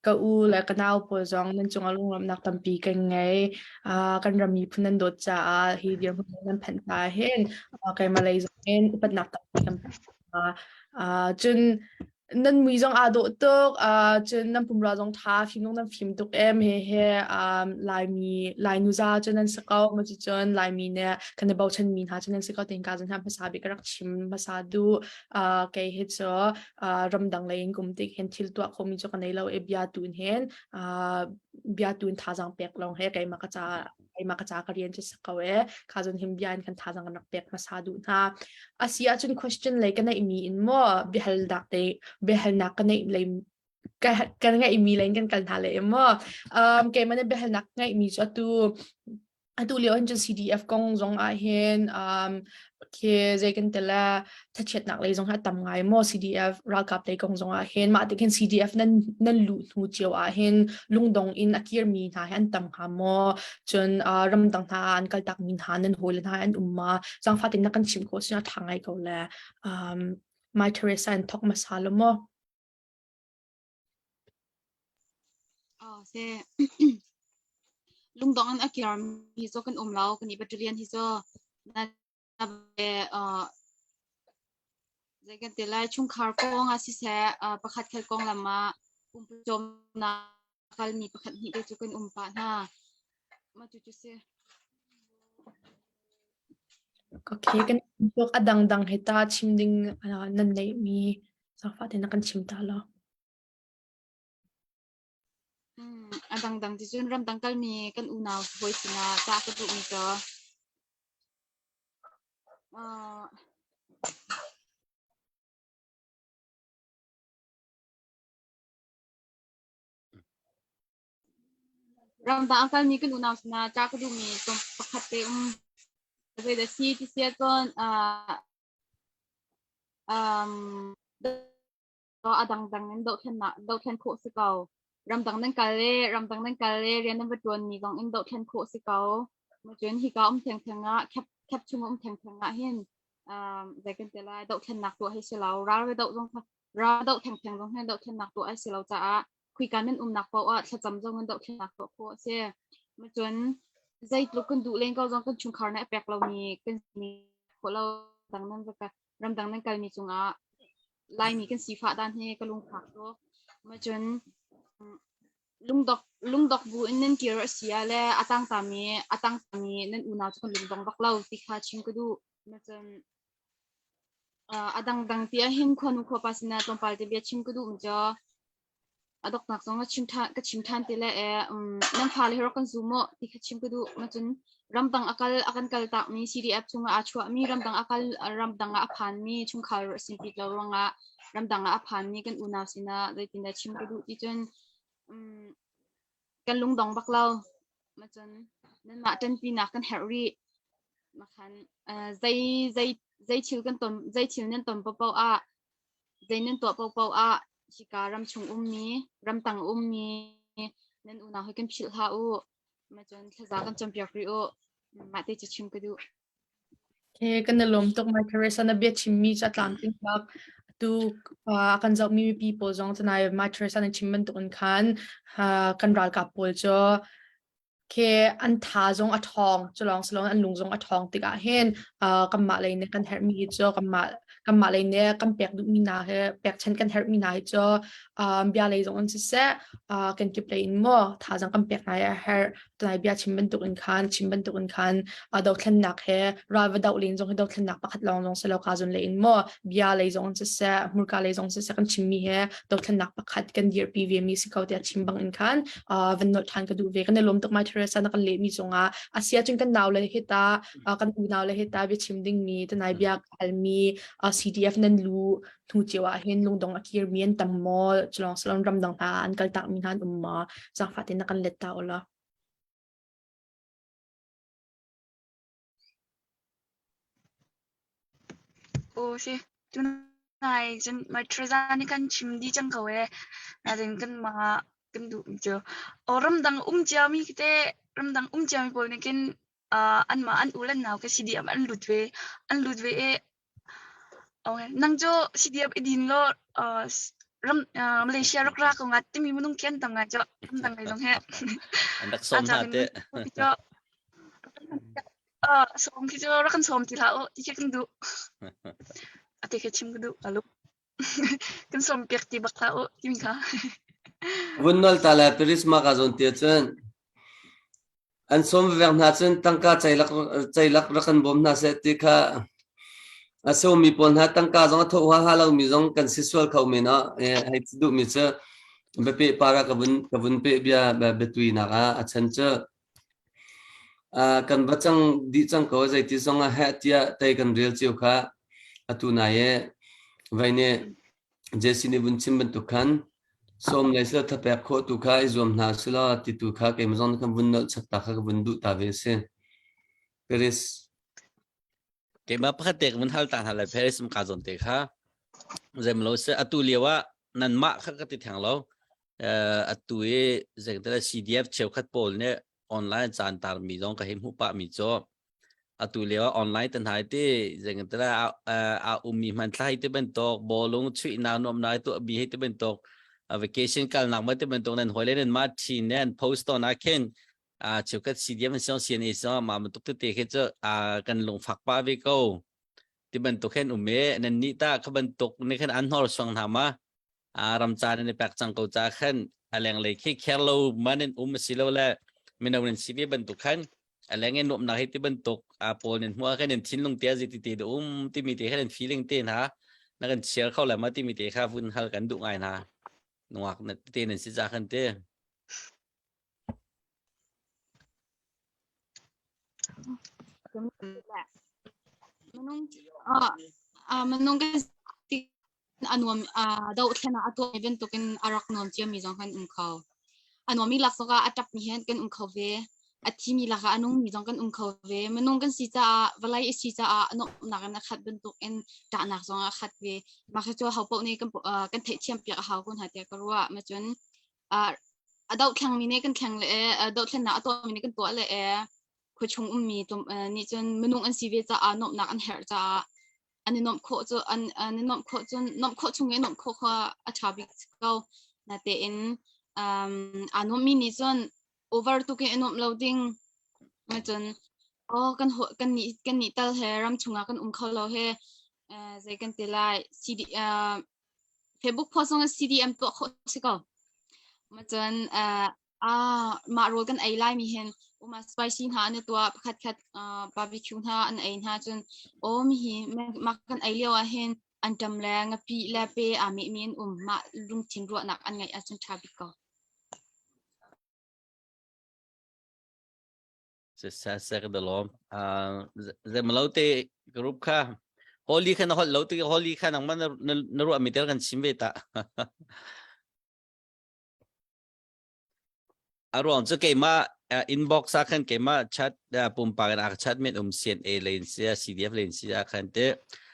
Ka u le ka nau pawl zong nan cungah lunglawmhnak tampi kan ngei. Ah, kan ram miphun nan dawt caah hi dirhmun nan phanh hna hin ah, keimah lei zongin upatnak tampi kan pe hna. Ah, cun nan mui zong aa dawh tuk. Ah, cun nan pumrua zong tha fimnung nan fim tuk em hehe. Ah, Laimi Lainu za cu nan si ko maticun Laimi nih kan i bochanmi hna cu nan si ko tihin ka zan hna hmasa bik ka rak chim hmasa duh. Ah, kei hi cu uh, ramdang lei in kum tik hen thil tua khomi chu ka nei lo e bia tun hen uh, bia tun thazang pek long he kai maka cha kai maka cha ka rian chi sakau e kha zon him bia in kan thazang rak pek ma sa du hna asi a chun question lei ka nei mi in mo behal dak te behal nak ka nei lei kan ngai mi len kan kal hna le mo um ke mane behal nak ngai mi chu tu Atu lio hin cun CDF kong zong ah hin, um, khi zeikan tel le thachiatnak lei zong hi a tam ngai maw CDF ralkap lei kong zong ah hin. Mah tuk hin CDF nan nan luh hnu cio ah hin lungdong in a kirmi hna hi an tam hnga maw? Cun, uh, ramdang hna ah an kaltakmi hna nan hawile hna hi an um maw? Zaangfatin na kan chimh khawh si na ṭha ngai ko le, um, Mai Teresa and Tok Masa lo maw? Lungdong in a kirmi cu kan um lo. Kan i battalion hi cu zei kan ti lai chungkhar kong ah siseh pakhat khat konglam ah pumpucawmnak kalmi pakhat hnih te cu kan um pah hna. Mah cu cu si. Okay, kan tuak a dangdang he ta chim ding nan neihmi Zangfah tein a kan chim ta lo. Mm, a dangdang ticun ramdang kalmi kan unau hawi sinah cah ka duhmi cu uh, ramdang a kalmi kan unau sinah cah ka duhmi tum pakhat te um. Zei da si ti sia cun uh, um, a dangdang in dohthlennak dohthlen khawh si ko. Ramdang nan kal le ramdang nan kal le rian nan va ṭuan ni zong in dohthlen khawh si ko. Cun hika um thengtheng ah khep khep chung um thengtheng ah hin um, zei kan ti lai dohthlennak tuah hi si lo. Ral ve doh zong kha ral doh thengtheng zong hin dohthlennak tuah hi si lo caah khoika nan umnak paoh ah thlacam zong nan dohthlennak paoh khu a si. Macun zeitluk kan duh len ko zong kan chungkhar nih a pek lomi kan si khawh lo dang nan ramdang nan kalmi cungah Laimi kan sifah dan hi ka lungphak cu. Macun lungdok lungdok bu in nan kir a si ah le a tangtami a tangtami nan unau cu kan lungdong bak lo ti kha chim ka duh. a dangdang ti ahhin khuanu khuapa sinah tlawmpal te bia chim ka duh um cio a doknak zong ka chim ṭhan ka chim ṭhan ti le e nan fale hi rak kan zum u ti kha chim ka duh macun ramdang a kal a kan kal takmi CDF chungah aa chuahmi ramdang a kal ramdang ah a phanmi chungkhar a si ti lo ruangah ramdang ah a phanmi kan unau sinah zeitindah chim ka duh ti cun Kan lungdong bak lo. Macun nanmah ṭanpinak kan herh rih. Makhan eh, zei, zei, zei thil kan ton, zei thil nan ton paohpaoh ah, zei nan tuah paohpaoh ah, hika ram chung ummi, ramtang ummi, nan unau hi kan philh hlah u. Macun thlaza kan campiak rih u. Mah te cu chim ka duh. He kan i lawm tuk. My Teresa na bia chimmi cu a tlamtling bak. Atu ah kan zohmi mipi pawl zong cu nai My Teresa na chim bantuk in khan ah, kan ralkap pawl cu khi an tha zong a ṭhawng, cu lawng si loin an lung zong a ṭhawng tikah hin ah, kanmah lei nih kan herhmi hi cu kanmah kanmah lei nih kan pek duhmi hna hi pekchanh kan herhmi hna hi cu ah, bia lei zong in siseh, ah, kenkip lei in maw thazaang kan pek hna hi a herh. tlai bia chim bantuk in khan chim bantuk in khan a dothlennak he ralva doh len zong hi dothlennak pakhat lawng zong si lo ka zun le in mo bia lei zong si se murka lei zong si se kan chimmi he dothlennak pakhat kan dirpi ve mi si ko te chim bang in khan van not than ka du ve kan lom tuk mai Teresa na kan le mi zongah asia chun kan naw le hita kan unau le hita bia chim ding mi tanai bia hal mi CDF nan lu hnu cio ah hin lungdong a kirmi an tam maw culong salon ramdang hna an kaltak mi hna an um maw zangfah tein na kan let ta ula o shi tunai jen mai trezan ni kan chim di chang ko e na den kan ma kan du jo o ramdang um cia mi kite ramdang um cia mi pol ne kin an ma an ulan naw ka si di am an lut ve an lut ve e Nang cu CDF i din law Malaysia rak ra ko nga timi minung khi an tam nga cu an tam ngai zong hi. An rak sawm hna teh. Sawm khi cu rak kan sawm ti hlah u ti khi kan duh. A ti khi chim ka duh ka luk. kan sawmpiak ti bak hlah uh timi kha. Vun nol ta le Paris ma ka zawn te cun an som vek hna cun tangka ceilak ceilak rak kan bawm hna se ti kha a so mi pawl hna tangka zong a thawha ha lo mi zong kan si sual kho men a hai duh mi cu bepe para ka vun ka vun pe bia betui na ka a chan cu kan va cang dih cang ko zeiti zong ah heh tiah tei kan rel cio kha atu nai e vai ne jesi nih vun chim bantuk khan som le sila thapek khawh tu kha i zuam hna sila ti tu kha keimah zong khan vun nolh chak ta kha ka vun duh ta ve si Paris keimah pakhat te ka vun hal ta hna le Paris kum ka zawn te kha zemlo se atu lio ah nan mah kha ka ti theng lo Eh, atu i zeiktal CDF cheukhat pawl nih online caan tarmi zong ka hei hmuh pahmi cu atu lio ah online tan hai ti zeikantara a a- a ummi hmanthlai te bantuk bawlung chuihnak nuamnak tuah bi hei te bantuk a vacation kalnak ma te bantuk nan hoi le nan ma thin nan post on ah khin a cheukhat CDF an siong CNA siong ma man tuk te te khi cu a kan lungfak pa ve ko ti bantuk hen um e nannih ta kha bantuk ne khan an hnorsuang hna ma a ram ca nan i pek cang ko ca khan a lenglei khi kher lo manin um si lo le mino nan si ve bantuk khan a leng in nuamnak hi ti bantuk a pawl nan hmuha khan nan thinlung te zi ti te da um timi te khan nan feeling te hna na kan chiar kho le ma timi te kha vun hal kan duh ngai hna nuak na te nan si ja khan te Minung kan si a nuam dohthlen ah a tuah mi bantukin a rak nuam cio mi zong kan um kho. A nuam mi laksawk ah a ṭap mi hen kan um kho ve. A thi mi lak ah a nung mi zong kan um kho ve. Minung kan si caah vawlei i si caah nuamhnak in a khat bantukin ṭahnak zong a khat ve. Mah cu hopoh nih kan theih thiam piak a hau kun hna tiah ka ruah. Macun a dohthlengmi nih kan thleng le e dothlennak a tuahmi nih kan tuah le e khua chung ummi nih cun minung an si ve caah nuamhnak an herh caah an i nuamh khawh cu an an i nuamh khawh cun nuamh khawh chung i nuamh khawh kha a ṭha bik ko natein aa nuammi nih cun over tuk in i nuamh lo ding cun oh kan kan nih kan nih tal he ram chungah kan um kho lo he zei kan ti lai Tebuk khua zong CDM tuah khawh si ko. Macun ah mah rol kan ei lai mi hin uma spicy hna an i tuah pakhat khat barbecue hna an ei hna cun awm hi mah kan ei lio ah hin an ṭam le ngapi le pe aa meh mi an um mah lungthin ruahnak an ngeih ahcun ṭha bik ko. sesek de lo zemlo te group kha holy khan hol lo te holy khan ang man na ru ami tel kan chim ve ta aruang chu keima inbox a khan keima chat pumpa kan ak chat met um CNA lein sia CDF lein sia khan te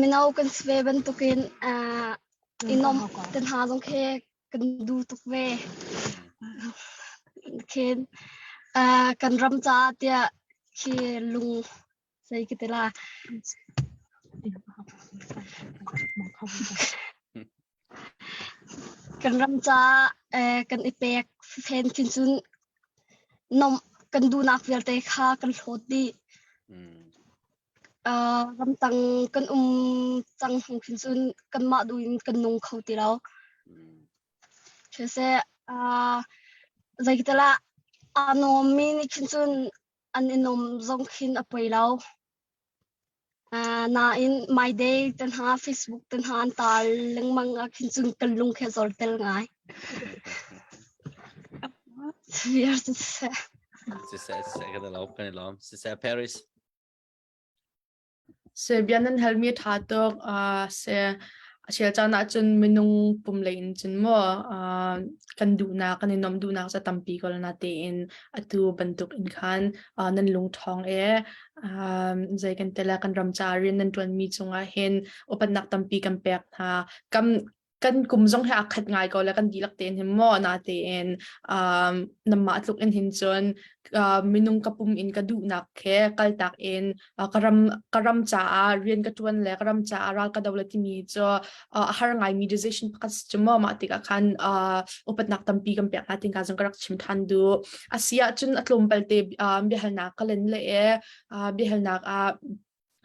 Mino kan si ve bantukin i nuamh te hna zong khi kan duh tuk ve. Khin kan ram caah tiah khi lung zei ka ti la. Kan ram caah kan i pek fafen khin cun nomh kan duhnak vialte kha kan hlawt dih. Ramdang kan um cang hnu khin cun kanmah duh in kan nung kho ti lo. Siseh zeitilah aa nuammi nih khin cun an i nuam zong khin a poi lo. Nain Myday te hna, Facebook te hna an taal lengmang ahkhin cun kan lung khi a zortel ngai. Fir siseh. Siseh, siseh kan i lawm, kan i lawm. Siseh, Paris. Serbian an halmi tha tuk. Uh, se asial caan ahcun minung pum lei in cun maw uh, kan duhnak kan i nuamh duhnak ca tampi ko na tein atu bantuk in khan uh, nan lungthawng e zei kan tela kan ram ca rian nan tuan mi cungah hin upatnak tampi kan pek hna kam kan kum zong he akhat ngai ko la kan dilak tein hin mo na tein um namma tluk in hin cun uh, minung ka pum in ka duh nak ke kal tak in uh, ka ram ka ram ca ah rian ka tuan le ka ram ca ah ral ka dawla ti mi cu uh, a har ngaimi decision pakhat cu maw mah tikah khan uh, upatnak tampi kan pek hna tinka zong ka rak chim than du a si ahcun a tlawm palte uh, biahalnak ka len le e uh, biahalnak ah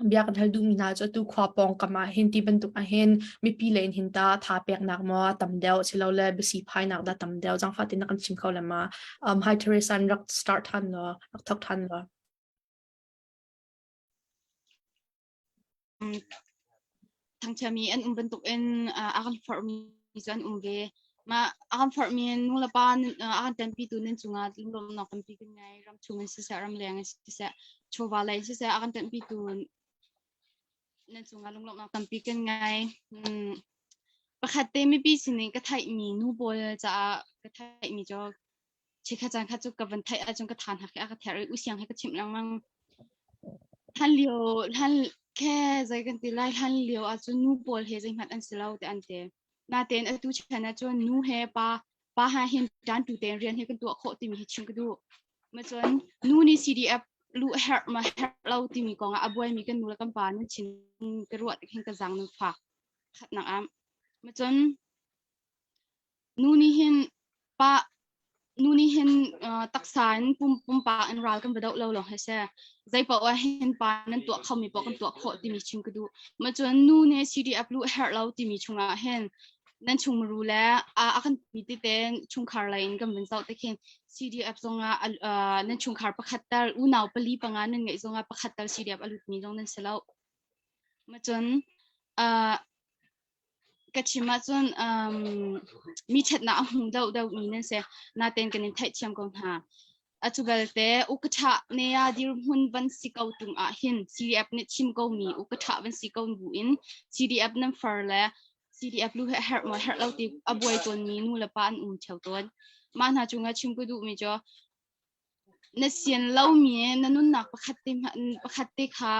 bia kan hal duhmi hna cu tu khua pawng kam ah hin ti bantuk ah hin mipi le in hin ta tha peknak mo tam deuh silo le bisi phainak da tam deuh zang fatin kan chim kho le ma um hi Teresa an rak start than lo rak thok than lo thangchiami an um bantukin a kan forhmi cu an um ve. Mah a kan forhmi nulepa a kan tempitu nan cungah lunglawmhnak tampi kan ngei. Ram chung in siseh, ram leng in siseh, chawva lei in siseh a kan tempitu nan cungah lunglawmhnak tampi kan ngei. Pakhat te mipi sin in ka theihmi nu pawl caah ka theihmi cu Chikha caan kha cu ka van theih ahcun ka tha hnak he a ka ther i usiang he ka chimh lengmang. Hlan lio hlan khe zei kan ti lai hlan lio ahcun nu pawl he zeihmanh an si lo te an ti. Natein atu chan ahcun nu he pa pa ha hin tan tu tein rian he kan tuah khawh timi hi chim ka duh. Macun nu nih CDF lu a herh ma herh lo timi kong ah a buaimi kan nu le kan pa nan chin ka ruah hin ka zaang nan fak khatnak am. Macun Nu nih hin taksa in pumpak in ral kan va doh lo lawng hi a si. Zeipaoh ahhin pa nan tuah khomi paoh kan tuah khawh timi chim ka duh. Mah cun nu nih CDF luh a herh lo timi chungah hin nan chungmuru le a kan pumi tete chungkhar lei in kan vun zoh te khin CDF zongah nan chungkhar pakhat tal unau pali panga nan ngeih zongah pakhat tal CDF a lutmi zong nan si lo. Mah cun ka chim ahcun um, mi ṭhatnak a hmu deuhdeuhmi nan si. Natein kan in theihthiam ko hna. Atu belte ukaṭha nea dirhmun van si ko tung ah hin CDF nih chim komi ukaṭha van si ko bu in CDF nan far le CDF lu he herh maw herh lo ti a buai tawnmi nu le pa an um ṭheo tawn. Mah hna cungah chim ka duhmi cu na sian lomi na nunnak pakhat te hmanh- pakhat te kha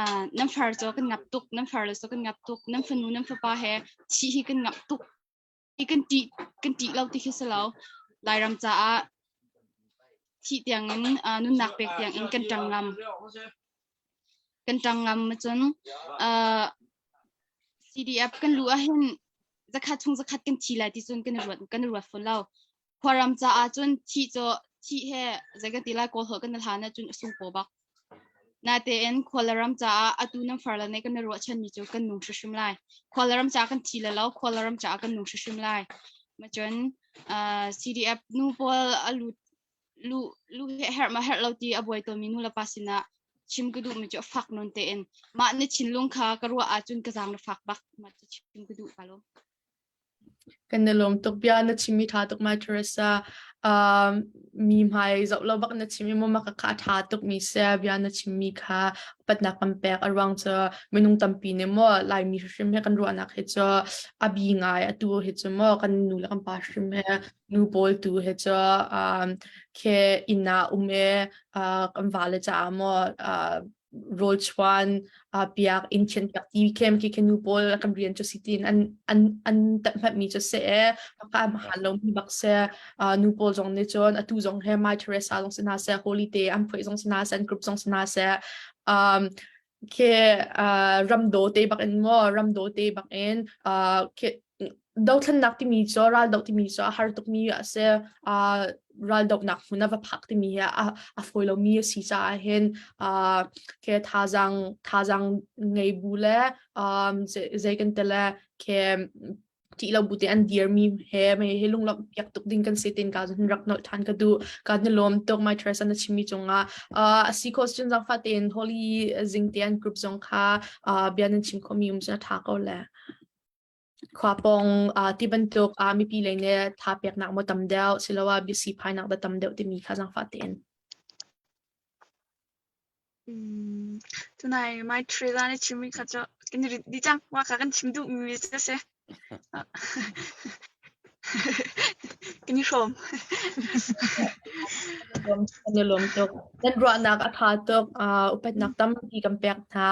uh, nan far cho kan ngap tuk nan far le so kan ngap tuk nan fanu nan fapa he chi hi kan ngap tuk i kan ti kan ti lo ti khi selo lairam caah thi tiang in uh, nunnak pek tiang in kan tang ngam kan tang ngam ma cun uh, CDF kan lu ah hin zakhat chung zakhat kan thi lai ti cun kan ruat kan ruat fo lo Khuaram caah cun thih cu thih he zei ka ti lai kawl holh kan i hlan ahcun a sung paw bak. Natein khua le ram caah atu nan far le nih kan i ruahchanmi cu kan nung hrimhrim lai. Khua le ram caah kan thi le lo, khua le ram caah kan nung hrimhrim lai. Macun uh, CDF nu pawl a lut lu lu he herh ma herh lo ti a buai tomi nu le pa sinah chim ka duhmi cu fak nun tein mah ni thinlung kha ka ruah ahcun ka zaang na fak bak ma cu chim ka duh ka lo. Kan i lawm tuk bia na chimmi ṭha tuk Mai Teresa. Uh, mi hmai zoh lo bak na chim i mamak a kha a ṭha tukmi si bia na chimmi kha upatnak kan pek a ruang cu minung tampi nih maw Laimi hrim he kan ruahnak hi cu a bi ngai atu hi cu maw kan nu le kan pa hrim he nu pawl tu he cu um, ke inn ah um e uh, kan vale caah maw uh, rawlchuan uh, piak in khen piak ti kem ki khenu pawl kan rian chu sitin an an an tat hmat mi chu se e phaka han lo mi bak se nu pawl zong ne chon atu zong he my teresa long sina se holiday an phoi zong sina se an group zong sina se um ke uh, ramdo te bak in ngo ramdo te bak in uh, ke Dothlennak timi cu raldoh timi cu a har tukmi a si. Aa raldohnak hmun a va phak timi hi a a fawi lomi a si caah hin aa ke thazaang thazaang ngei bu le aa zei zei kan ti le ke ṭih lo bu te an dirmi he mei hi lunglawmhpiak tuk ding kan si tiin ka hin rak nolh ṭhan ka duh. Ka hin lawm tuk My Teresa na chimmi cungah. Aa a si kho cun zaangfah tein Holly zingte an group zong kha aa bia nan chim khomi um cun a ṭha ko le. khua pawng uh, ti bantuk uh, mipi lei ne tha peknak mo tam deuh siloah bisi phainak da tam deuh timi kha zang fa tein Hmm, tunai mai trela ne chimi kha cho kan ri di chang wa ka kan chim du mi se se Kan i hrawm. Kan i lawm tuk. Nan ruahnak a ṭha tuk. Uh, upatnak tampi kan pek hna.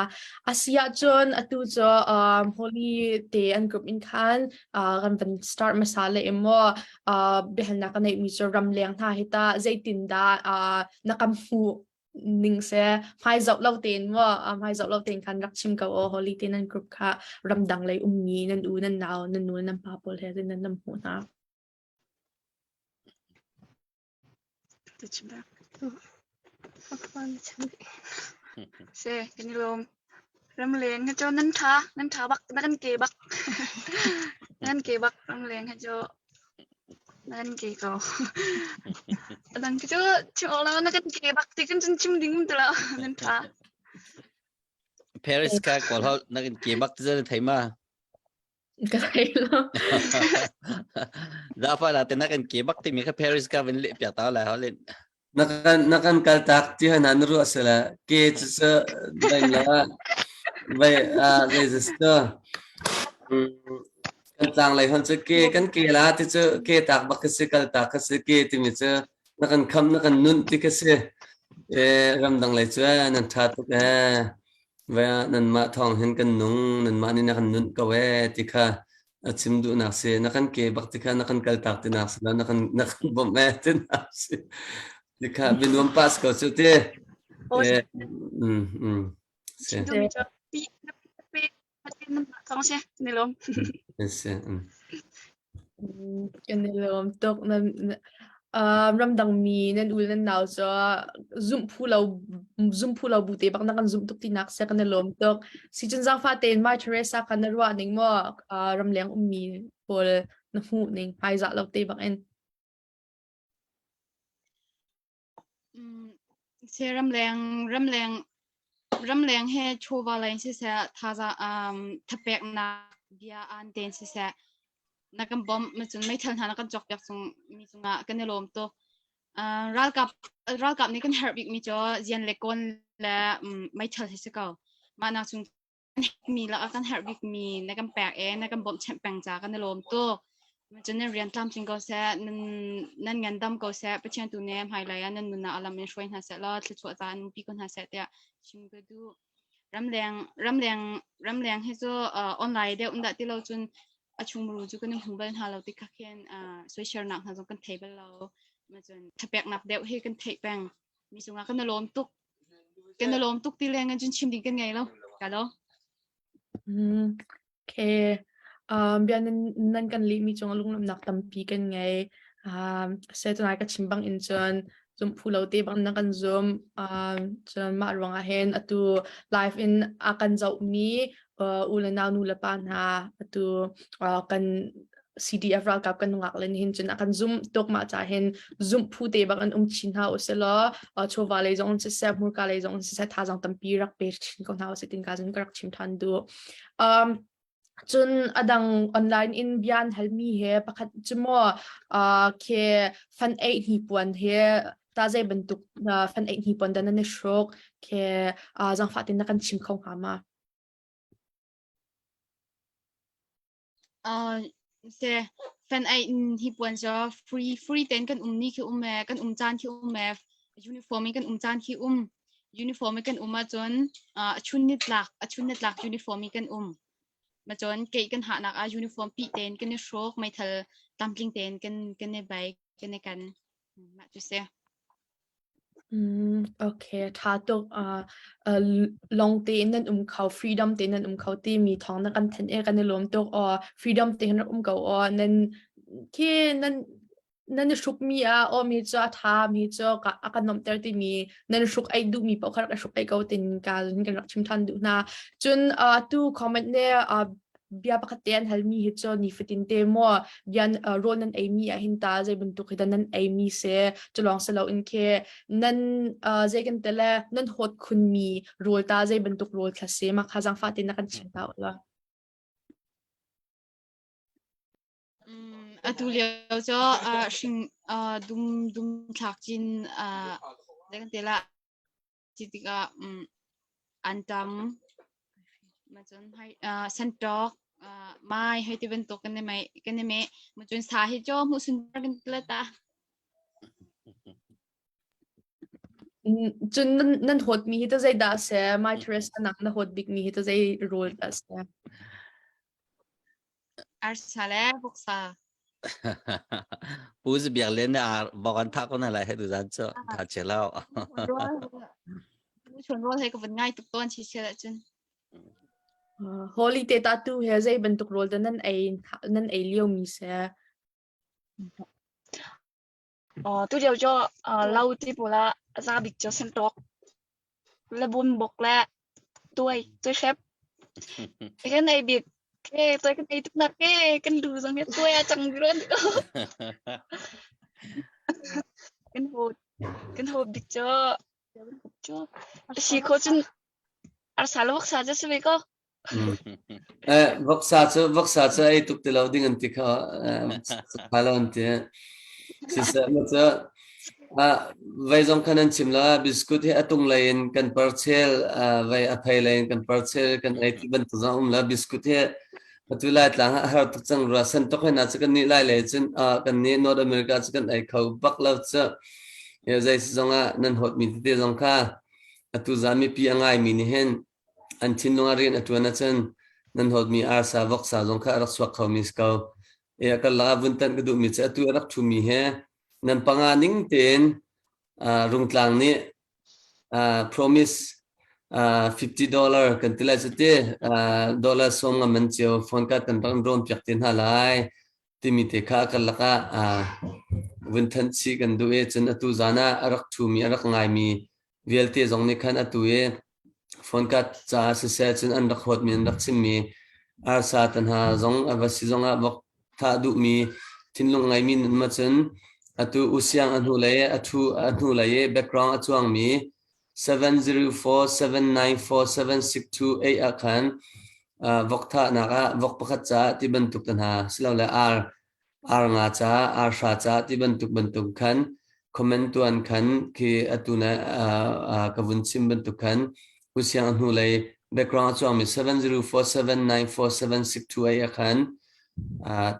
A si ahcun atu cu um, holiday an group in khan uh, kan van start hmasa le emaw uh, biahalnak ka neihmi cu ramleng hna hi ta zeitindah uh, na kan hmuh ning seh hmai zoh lo tein maw a hmai zoh lo tein khan rak chim ko aw holi te nan group kha ramdang lei ummi nan u nan nau nan nu nan pa pawl he nan nan hmuh hna Tuchim bak tu. Akpon chami. Se, kan i lom. Ramleng hi cu nan tha nan tha bak na kan ke bak na kan ke bak ramleng hi cu na kan ke ko adang khi cu chim awk lo na kan ke bak ti kan cun chim ding um ti lo nan tha Paris ka kawl hau na kan ke bak ti zan thei ma ka thei lo da pa da te na kan ke bak ti mi ka Paris ka vin le pya ta la ho le na kan na kan kal tak ti hana na ru asala ke chu sa bai la bai a register kan tlang lai hon chu ke kan ke la ti chu ke tak bak ka si kal tak ka si ke ti mi chu na kan kham na kan nun ti ka si e ram dang lai chu nan tha tuk e Ve ah nanmah thawng hin kan nung, nanmah nih na kan nunh ko ee ti kha a chim duhnak si. Na kan ke bak ti kha na kan kaltak tinak si lo, na kan, na kan bawmh ee tinak si. Ti kha binuam pass ko cu ti. Aw, Eh, mm, mm. Si, dum cho pi na pi na pi na pi na thong se ni lom. si, mm. Kan i lawm tuk. Nan um ramdangmi nan u le nan nau cu zumh phu lo zum phu lo bu te bak na kan zumh tuk tinak si kan i lawm tuk. Sicun zaangfah tein My Teresa kha na ruah ning maw, uh, ramleng ummi pawl na hmuh ning hmaizah lo te bak in? se ramleng ramleng ramleng he chawva leng siseh thaza um thapeknak bia an tein siseh na kan bom macun meithal hna na kan cok piak cung mi cungah kan i lawm tuk uh, ralkap ralkap nih kan herh bik mi cu zian le kon le um meithal hi si ko mah nak chung mi la kan herh bikmi na kan pek e na kan bawmhchanh peng ca kan i lawm tuk cun nan rian tlamtling ko seh nan nan ngandam ko seh pathian tu ne hmailei ah nan nunah alam in hruai hna seh law thluachuah ta nan pi ko hna seh tiah chim ka duh ramleng ramleng ramleng he cu online deu umdah ti lo cun a chungmuru cu kan hmu bal hna lo ti kha khin soishelnak hna zong kan thei bal lo ma cun thapek nap deu hi kan theih peng mi cungah kan i lawm tuk Kan i lawm tuk ti leng in cun chim ding kan ngei lo. Ka lo. Okay. Um, bia nan, nan kan lih mi cung lunglawmnak tampi kan ngei. Um, sai cun ka chim bang in cun zum phu lo te bang na kan zum. Um, cun mah ruang ah hin atu live in a kan zoh mi uh, u le nau nu le pa hna atu uh, kan CDF ralkap kan nungak len hin cun akan zum tok ma cha hin zum phu te bak an um chin ha uselo uh, chova lei zong se se murka lei zong se se tha zong tampi rak pe chin ko hna usitin ka zun ka rak chim than du um cun adang online in bian halmi he pakhat cumo uh, ke fan ei ni puan he ta zai bantuk uh, fan ei ni puan dana ne shrok ke uh, zang fatin na kan chim kho ha ma se fan ai in hi puan cho free free ten kan um ni khi um e kan um chan khi um e uniform in kan um chan khi um uniform in kan um a chun a chun ni tlak a chun ni tlak uniform in kan um ma chon ke kan ha nak a uniform pi ten kan ni shrok mai thal tamtling ten kan kan ne bai kan ne kan Mah cu si. Mm, okay. Tha tuk. Uh, uh, long tein nan um kho, freedom tein nan um kho timi thawng na kan thanh e kan i lawm tuk. Or freedom tein rak um ko or nan khi nan nan i hruk mi ah o mi cu a tha mi cu ka a kan nom ter timi nan hruk ai duh mi paoh kha rak i hruk ai ko tin ka kan rak chim than duh hna. Cun uh, tu comment ne uh, bia pakhat te an halmi hi cu nifatin te maw bian raw nan ei mi ahhin ta zei bantuk hi nan ei mi se culong si lo in khe nan zei kan te le nan hot khun mi rawl ta zei bantuk rawl thla se ma kha zang fa te na kan chim ta ula atu lio cu hring dum dum thlak cin zei kan te la Ti tikah um, an tam. Macun hai uh, santok uh, mai hai ti bantuk kan ne mai kan ne me macun sa hi jo mu sunbar kan tla ta. Cun nan nan hot mi hi ta zei da se mai Teresa nak na hot bik mi hi ta zei role da se. Arsa le voksa. Pu Zu Biak Lian nih ar bokan thak ko na lai he du zan cu tha che lao. Chun rual he ka van ngai tuk tuan si se da cun. holiday ta tu he zei bantuk rol ta nan ei nan ei lio mi se Tulio cu lo ti pawl ah a za bik cu santawk, lebunbuk le tuai, tuihrep. Hi kan ei bik. Ke, tuai kan ei tuknak ke kan du zong hi tuai a cang run. Kan hawt, kan hawt bik cu Si khawh cun arsa le voksa cu a si ve ko. Voksa cu voksa cu ei tuk ti lo ding an ti kha ṭha lo an ti. Siseh maw cu vei zong khan an chim lo biscuit hi a tung lei in kan parcel vei a phei lei in kan parcel kan ei ti bantuk zong a um lo biscuit hi Atu Laitlang ah a har tuk cang rua. San tuk hena cu kan nih lai le cun ah kan nih North America cu kan ei kho bak lo cu. E, zei zong ah nan hot mi tete zong kha atu zan mipi a ngai mi nih hin an thinlung a rian a tuan ah cun nan hot mi arsa voksa zong kha a rak suak kho mi si ko. E, a kar lak ah vun tanh ka duh mi cu atu a rak thu mi he nan panga ning tein ah rungtlang nih promise fifty dollar kan ti lai cu ti dollar sawm ngam an cio phone card kan rak ron piak te hna lai timi te kha kan lak ah vun than chi kan duh e cun atu zan ah a rak thu mi a rak ngai mi vialte zong nih khan atu e phone card ca siseh cun an rak huat mi an rak chim mi arsa tanha zong ava si zong ah bok Thah duhmi thinlung ngeimi nun ma cun atu u siang a hnu le a thu a hnu lei i background a cuangmi 7047947628 ah khan uh, vok thahnak ah vok pakhat caah ti bantuk te hna silole ar ar nga caah ar hra caah ti bantuk bantuk khan comment tuan khan khi atu na ka vun sim bantuk khan ku siang hnu lei background chuang mi 7047947628 a khan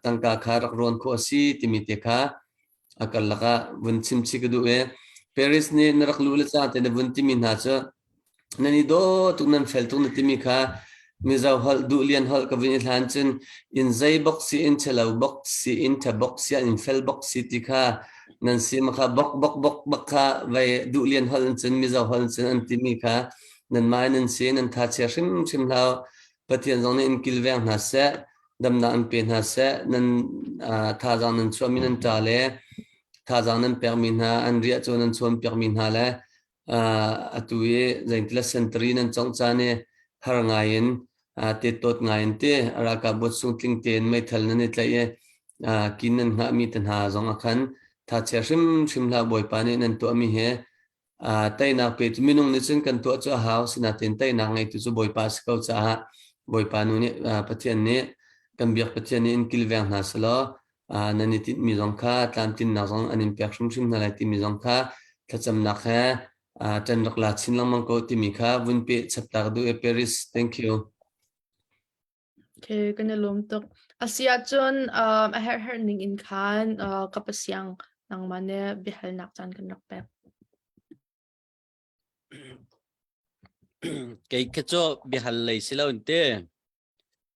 tangka kha rak ron kho si timi te kha akal laka vun sim chi ka du e Paris ni narak lu le cha te na vun timi hna chu nan i daw tuk nan fel tuk na timi kha Mizo holh duhlian holh ka vun i hlan cun in zei bok si in chelo bok si in tha bok si ah in fel bok si ti kha nan si ma kha bok bok bok bok kha vei duhlian holh in cun Mizo holh in cun an timi kha nan mai nan si nan tha chia hrimhrim hlau Pathian zong nih in kilveng hna seh damnak an pe hna seh nan thazaang nan chuahmi nan ṭa le thazaang nan pekmi hna an riah cu nan chuan piakmi hna le atu i zeintila sentari nan congh caan i har ngai in tettawt ngai in ti ralkapbu chung tling tein meithal nan i tlaih i kin nan hngahmi te hna zong a khan thachia hrimhrim hlah bawipa nih nan tuahmi hi teinak pe cu minung nih cun kan tuah cu a hau sinain teinak ngeitu cu bawipa a si ko caah bawipa nu nih pathian nih kan biak pathian nih in kilveng hna selaw nan i tinhmi zong kha tlamtlinnak zong an in pek hrimhrim hna lai timi zong kha thlacamnak he ṭan rak la chin lengmang ko timi kha vun peh chap ta ka duh i Paris. Thank you. Okay, kan i lawm tuk. A si ahcun a herhherh ning in khan ka pasiang nangmah ne biahalnak caan kan rak pek. Kei kha cu biahal lei si lo in te.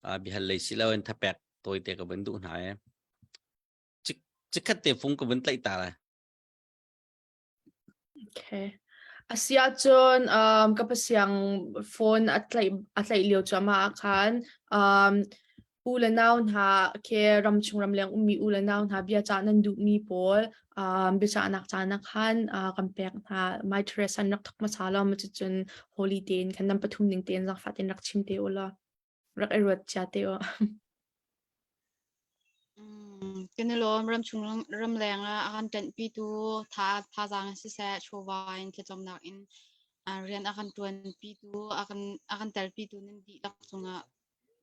Ah bihal lei si lo in thapek tawi te ka vun duh hna e. Cik cikhat te fung ka vun tlaih ta la. Okay. Asiahcun um, ka pasiang phone a tlaih a tlaih lio cuama khan um, u le nau hna ke ram chung ram leng ummi u le nau hna bia cah nan duhmi pawl Um, biacahnak caan ah khan uh, kan pek hna. My Teresa an rak thawk hmasa lo, ma cucun holiday in kan nam pathum ning tein zangfah tein rak chim te u law, rak i ruat cia te u. Kinilom ram chung ram leng ah akan tanpi tu tha tha zang si se chova in thecom nak in rian akan tuan pi tu akan akan tel pi tu nan di tak chung ah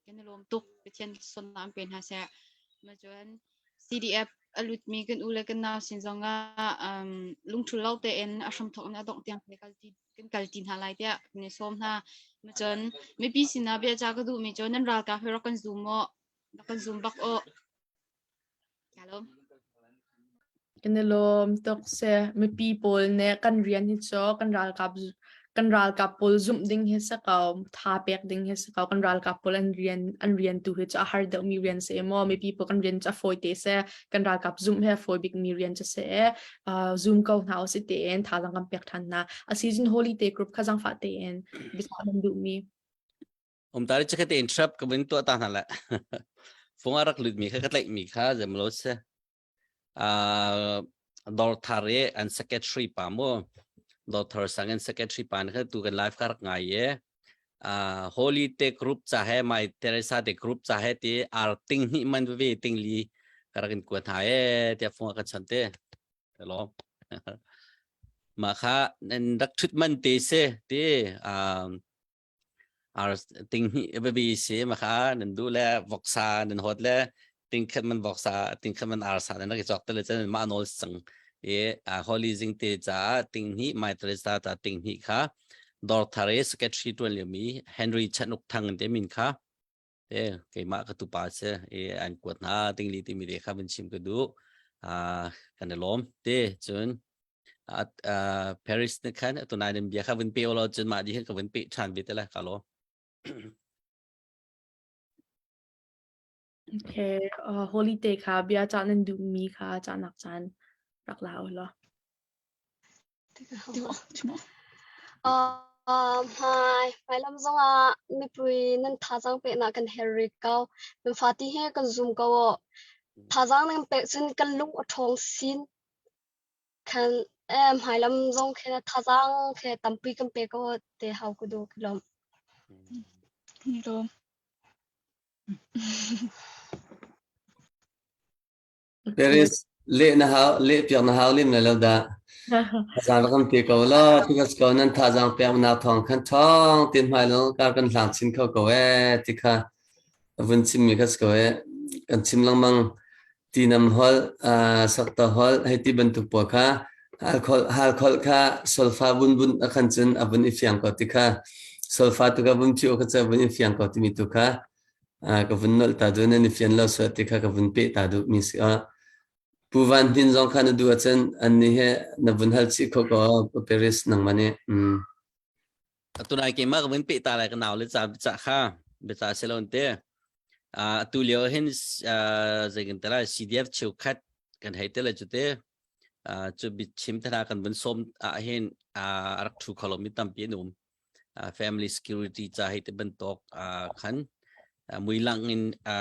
kan i lawm tuk. Pathian sualnak pe hna seh. Macun CDF a lutmi kan u le kan nau sin zong ah um, lungthul lo tein a hramthok in a dongh tiang kan kalti kan kalti hna lai tiah kan i sawm hna. Macun mipi sinah bia ca ka duhmi cu nan ralkap hi rak kan zum maw? Rak kan zum bak u. Kan i lawm tuk sih. Mipi pawl nih kan rian hi cu kan ralkap kan ralkap pawl zumh ding hi si ko, tha pek ding hi si ko. Kan ralkap pawl an rian an rian tu hi cu a har deuhmi rian si maw, mipi pawl kan rian cu a fawi te sih. Kan ralkap zumh hi a fawi bikmi rian cu si. Uh, zum ko hna usih tiin thazaang kan pek than hna. A season holiday group kha zangfah tein biacah kan duhmi. umtari chakhe te in trap ka bin tua ta na la phung arak lut mi kha ka tlai mi kha zemlo se a dor thare an secretary pa mo doctor sang an secretary pa ne kha tu kan life kar ngai ye a holy te group cha है my teresa te group cha है ते ar ting ni man ve ting li karakin ku tha e te phung ka chan te lo ma kha dak thut man te se te a ar ting hni babi se ma kha nan du le voksa nan hot le ting khat man voksa ting khat man ar sa nan ki chok te le chan ma nol sang e a holy jing te cha ting hni mai teresa ta ting hni kha dor thare secretary tuan le mi henry chan uk thang te min kha Eh, keimah ka tupa si i an kuat hna dingli timi te kha van chim ka duh. Ah, kan i lawm te cun at ah, Paris ne khan atu nai nan bia kha van pe lo cun mah di hin ka van pe ṭhan ve te la ka lawm. Okay, uh, holiday kha bia cah nan duhmi kha cahnak caan rak la u law. Hmailam zongah mipui nan thazaang peknak kan herh rih ko. Nan fati he kan zum ko u. Thazaang nan pek cun kan lung a ṭhawng sin. Khan hmailam zong khe thazaang khe tampi kan pe ko te hau ku du ki lawm. Ni lawm. Paris leh na hau leh piak na hau lim le lo da zan rak kan pe ko la tikas ko nan tha jang pe na thong khan thong tin mai lo kar kan hlang chin kho ko e tikha vun chim mi khas ko e kan chim lang mang ti nam hol sak ta hol hei ti ban tu po kha hal khol hal khol kha solfa bun bun akhan chun abun i fiang ko tikha solfa tu ka bun chi o ka cha bun i fiang ko ti mi tu kha Ah, ka vun nolh ta cun an i fian lo suat ti kha ka vun peh ta duhmi si ah. Pu Van Hnin zong kha na duh ahcun an nih he na vun hal chih kho ko Paris nangman i. Mm. atu nai ke ma ka vun pe ta lai ka naw le cha bicha kha bicha se lon te a tu leo hin zekin tala CDF cheu khat kan hei te la chu te chu bit chim thana kan vun som a hin a rak thu kholo mi tam pi num family security ca hi ti bantuk khan muilang in a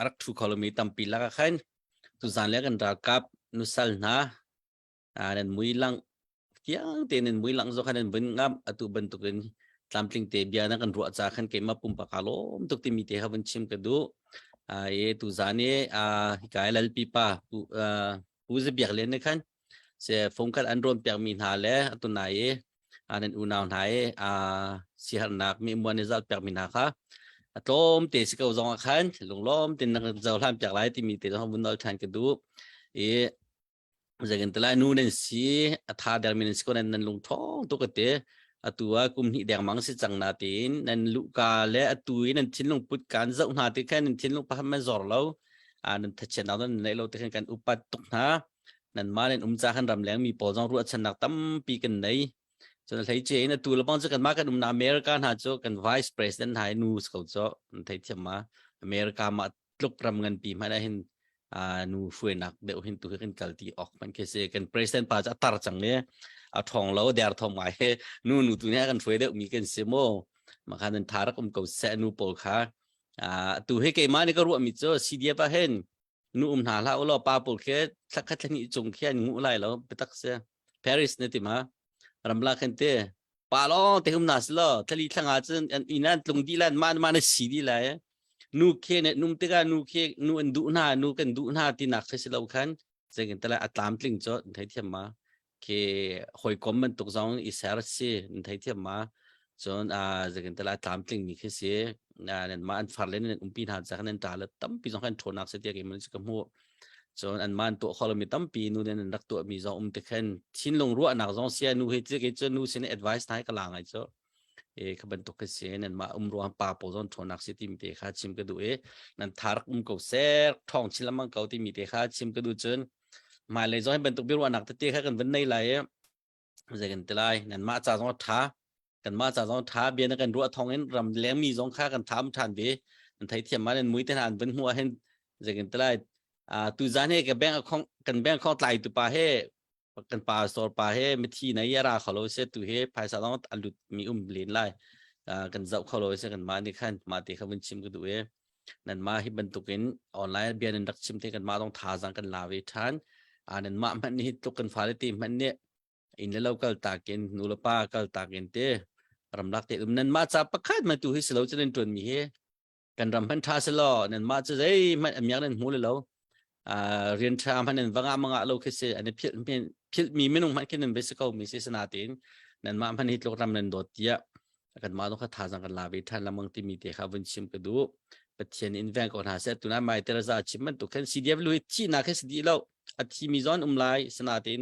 rak thu kholomi tampi lak ah khan tuzan le kan ralkap nusal hna nan muilang fiang tein in muilang zo khan nan vun ngam atu bantuk in tlamtling te bia na kan ruah ca khan keima pumpa ka lom tuk timi te havun chim ka du e tu zane hi kai lal pipa pu zabiak le ne khan se fungkhat an ron piak mi hna le atunai an in unau hna i a siharnak mi muan i zalpiak mi hna kha a tlawm te si ko zong ah khan lunglawm tin na cohlan piak lai timi te zong vun nol ṭhan ka duh i zeikin te lai nu nan si a tha der mi nan si ko nan nan lung thong tu ka te atu a kum hnih deng mang si cang na tin nan lu ka le atu i nan thinlung put kan zoh hna ti khan nan thinlung pahan man zor lo a nan thachien na nan nei lo te khan kan upat tuk hna nanmah in umca kan ram lengmi pawl zong ruahchannak tampi kan nei cun hlei ce in atu lebang cu kanmah kan umna America hna cu kan vice president hna nu ko cho an thei thiam ma America ma tluk ram ngan pi hmana hin nu hruainak deuh hin tu kan kal ti ok man ke se kan president pa cha tar chang le a thong lo der thom ngai he nu nu tu ne kan hruai deuh mi kan se mo ma khan an tharak um ko se nu pawl kha tu he ke ma ni ka ruah mi cho CDF a hen nu um hna hlah ulaw pa pawl khi thlakhat thlahnih chung khian ngu lai lo biatak si paris ne ti ma ramla khan te pa lo te hum na silo thali thlanga cun inan tlung di lan man man si di lai nu khe ne num tiga nu khe nu an du hna nu kan du hna ti nak se silo khan zengin tala atlam tling cho thai thiam ma ki hoikom bantuk zong i ser si in thei thiam ma cun a zakin tala tlam tling mi khi si nan ma an far len nan umpi hna za nan ta la tampi zong kan thonak se tia ke mun ka mu cun an man to khol mi tampi nu den rak to mi zong um te khen thin lung ruah nak zong sia nu he ti ke cun nu sin advice nai kala ngai cho e kha bantuk ka si nan mah um ruang pa po zon thonak si ti mi te kha chim ka du e nan tharak um ko ser thong chil mang ko ti mi te kha chim ka du chun mai le zon bantuk biru anak te te kha kan ban nei lai e zai kan te lai nan ma cha zon tha kan ma cha zon tha bian kan ru thong in ram leng mi zong kha kan tham than ve an thai thiam ma nan mui te han ban hua hen zai kan te lai a tu zan he ka bank akhong kan bank khong tlai tu pa he kan pa sor pa he mithi nei ya ra kholo se tu he phaisa long alut mi um lin lai kan zau kholo se kan ma ni khan ma te kha mun chim ku du e nan ma hi bantukin online bian in rak chim te kan ma dong tha jang kan lawe than anan ma man ni tluk kan fale te man ne in le lokal takin nula pa kal takin te ramlak te dum nan ma cha pakhat ma tu hi silo chinin tun mi he kan ram hman tha se law nan mah cu zeihmanh amiak nan hmu le lo rian tha hman nan vanga manga lo khi se an phil mi minung hman khi nan ve se ko mi si sana tin nan mah hman hi tlok ram nan dot tia kan ma no kha tha zang kan la ve than lamang ti mi te kha vun chim ka du pathian in veng ko hna se tuna mai teraza chim man tu khan cdf lu hi thi na khe sdi lo a thi mi zon um lai sana tin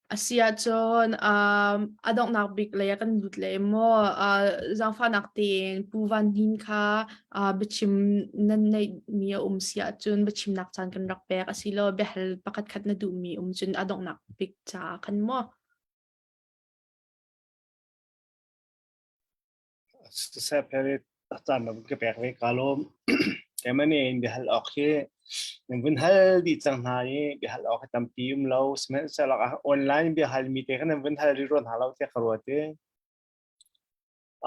A si ahcun um, a donghnak bik lei ah kan lut le maw uh, zaangfahnak tein Pu Van Hnin kha uh, biachim nan neihmi a um si ahcun biachimnak caan kan rak pek a si lo biahal pakhat khat na duhmi um cun a donghnak bik caah khan maw. sisep he tam ka pek ve ka lom Germany in biahal awk hi in vun hal di cang hna i biahal awk hi tampi um lo smen salak ah online biahal mi te kan vun hal ri ron ha lo te ka ro te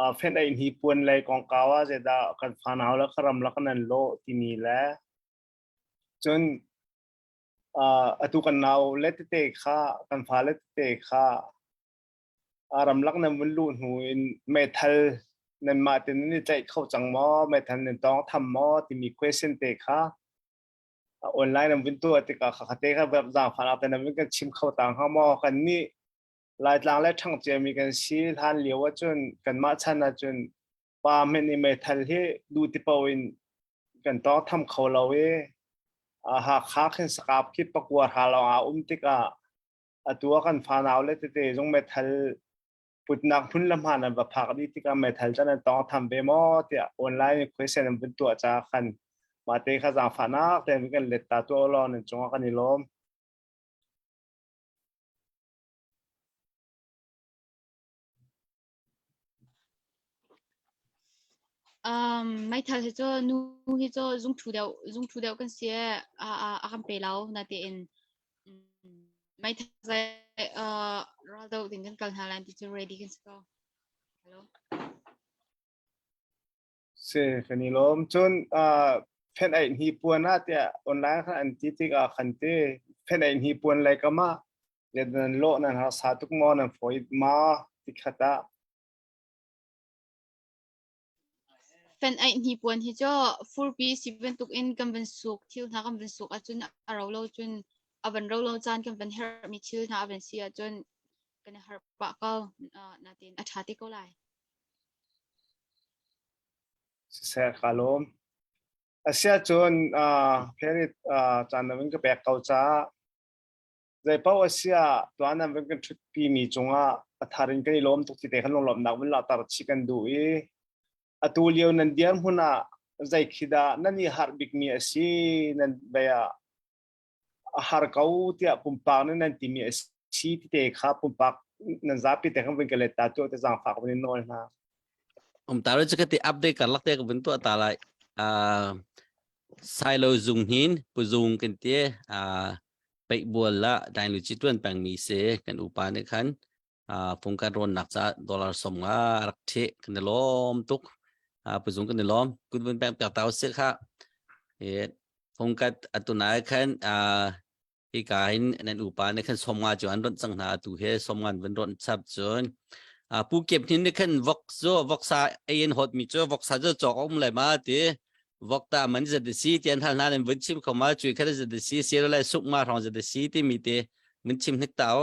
a fen ai ni puan lai kong kawa je da kan fa naw la karam la kanan lo ti ni la chun a atu kan naw le te kha kan fa le te kha ramlak nan vun luh hnu in meithal nan mah tin nan i tlaih kho cang maw meithal nan tawng tham maw timi question te kha online nan vun tu tikah kha te kha zaangfan ak nan vun kan chim kho ta hnga maw kan ni laitlang le ṭhangcia mi kan si hlan lio ahcun kan mah chan ahcun pa men i meithal hi du tipo in kan tawng tham kho lo i ha kha khin sakap khi pakuar ha long a um tikah atu a kan fanau le tete zong metal putnak phun le hma nan va phak di tikah metal chan an tong tham ve maw tiah online question an vun tuah cha khan ma te kha zang fanak ten kan let ta tu lo nan chunga kan i lom Um, meithal hi cu nu hi cu zungṭhu deuh zungṭhu deuh kan si i a a a kan pe lo natein um, meithal zei uh, ral deuh ding kan kal hna lai ti cu ready kan si ko. Helo. Si kan i lawm. Cun uh, fenaih hnipuan ah tiah online khan an ti tikah khan ti fenaih hnipuan lai kama ya nan lo nan har sa tuk mo nan foi ma tikhata fen ai ni puan hi cho furpi siven tuk in kan van suk thil hna kan van suk achun aro lo chun avan ro lo chan kan van her mi thil hna avan si achun kan har pa ko na tin athati ko lai siseh ka lawm. Asiahcun Planet caan na vun ka pek ko caah zeipaoh asia tuan an vun kan ṭhutpi mi cungah pathar in kan i lawm tuk ti te kan lunglawmnak vun lauhter chih kan duh i atu lio nan dirhmun ah zei khi dah nan i harh bikmi a si nan bei ah a har ko tiah pumpak nih nan timi a si tite kha pumpak nan zapi te kan vin ka let ta tu te zang fak vin nawl hna um ta ro che ti update kar lak te ka vin tu ta lai a silo zung hin pu zung kan te a pek bual la dai lu chi tuan pang mi se kan upa ne khan pung kan rawn nak cha dollar som nga rak the kan ni lom tuk puzung kan ni lom kun bun pek pek tau se kha e pung kat atunai khan i ka in nan upa ne khan som nga chu an ron chang na tu he som ngan bun ron chap chun pu kep thin ne khan vok zo vok sa en hot mi chu vok sa zo chok om le ma ti vok ta man za de si tian hal na nen bun chim khoma chui kha za de si se le suk ma rong za de si ti mi te mun chim hnik tao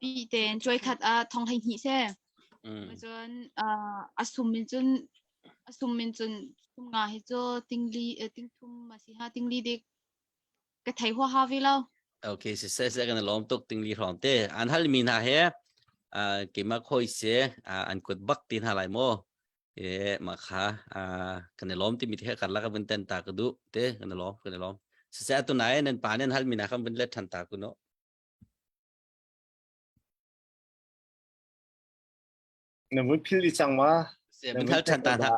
pi tein cuai khat ah thong hei hni seh. Mm. Cun a sum in cun a sum in cun thum nga hi cu tingli ting thum ma si ha tingli dik ka thei hua ha vi lo. Okay, se se se kan lom tuk tingli hrom te. An hal mi hna he kema khoi se an kut bak tin ha lai mo. E ma kha kan lom ti mi te kar la ka bun ten ta ka du te kan lom kan lom. Se se atu nai nen pa nen hal mi na kan bun let than ta ku no. Na vun philh dih cang ma? Na vun ṭhan ta hna.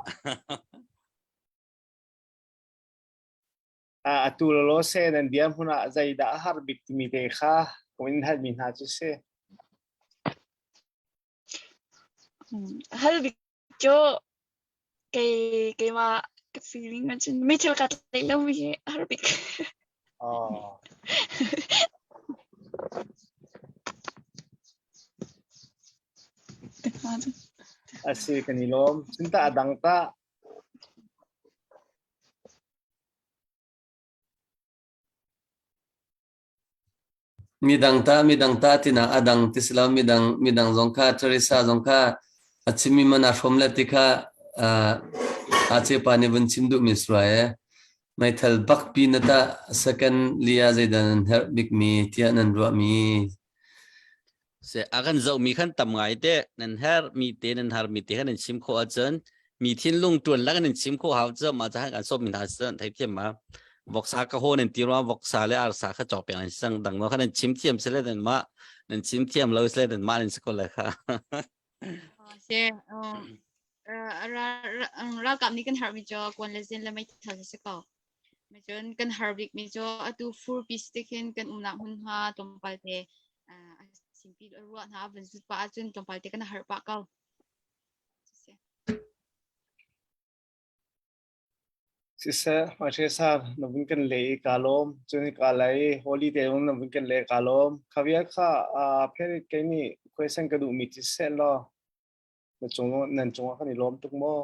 Ah, atu lolo se nan bia hmun ah zeidah a har bik timi te kha ka in halmi hna cu si. hal bik cu keimah ka feeling ahcun mi thil ka tlai lomi hi a har bik. Asi kan i lawm. Cinta a dang ta. Midang tah midang tah tinak a dang ti si lo. Midang midang zong kha Teresa zong kha a chimmi man aa hrawm le ti kha uh, Ace pa nih vun chim duhmi suai e. Meithal bakpi na tah second lia zeidan an herh bikmi tiah nan ruahmi Se a kan zohmi khan tam ngai te nan her mi te nan har mi te khan nan chim khawh ahcun mi thinlung tuan lak in nan chim khawh hau cu ma cah kan sawm mi hna cun thei thiam ma voksa ka ho nan ti rwa voksa le arsa kha chok peng an sang dang ma kha nan chim thiam se le dan ma nan chim thiam lo se le dan ma nan si ko le kha se ral ram ram kam ni kan har mi jo kwan le zin le mai thal se ko Macun kan har bikmi cu atu furpi si tikhin kan umnak hmunhma tlawmpal te uh, a simpi ruah hna van zut pah ahcun tlawmpal te kan har pah ko. Siseh, hmaichhe san na vun kan le i ka lom, cun ka lai holiday ung na vun kan le ka lom. Khaviat kha pherit ke nih question ka duh mi ti set law. na cung nan cungah kan i lawm tuk maw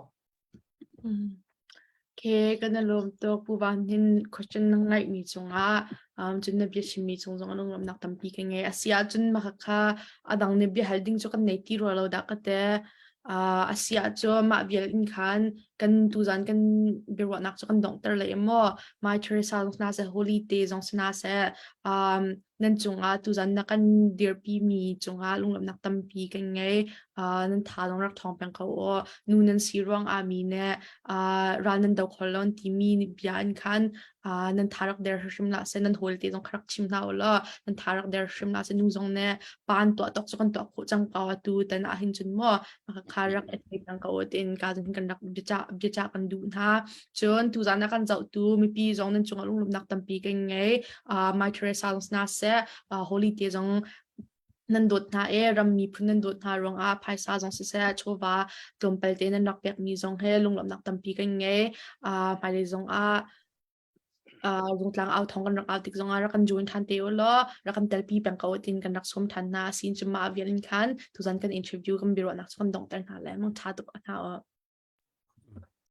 ke kan i lawm tuk pu van hin question na ngaih mi cungah cun na bia chim mi cung zong lungrum nak tampi ka ngei asi ah cun maka kha adang ne bia hal ding cu kan nei ti ro lo da ka te asi ah cu mah vial in khan kan tu zan kan biruah nak cu kan dong ter le maw my teresa zong sna se holy day zong sna se nan cungah tuzan na kan dirpimi cungah lunglawmhnak tampi kan ngei. Uh, nan tha lawng rak thawng peng ko u. Nu nan si ruangah mi ne uh, ral nan do kho lon timi bia in khan uh, nan tha rak der hrim la se nan hol te zong kha rak chim hna u law nan tha rak der hrim la se nu zong ne pan tua tok chu kan tua kho chang pa wa tu tan a hin chun mo kha rak e thei tang ko tin ka zun kan rak bia kan du hna Cun tuzan na kan zohtu mipi zong nan cungah lunglawmhnak tampi kan ngei. Uh, Mai Teresa zong hna seh, uh, Holy Day zong nan dawt hna e ram miphun nan dawt hna ruangah phaisa zong siseh chawva tlawmpal te nan rak pek mi zong he lunglawmhnak tampi kan ngei uh, hmailei zong ah uh, rungtlang au thong kan rak au tik zongah rak kan join than te u law rak kan telpi peng ko tin kan rak som than hna sin chuma avial in khan tuzan kan interview kan biaruahnak chu kan dongter hna le mang tha tuk hna u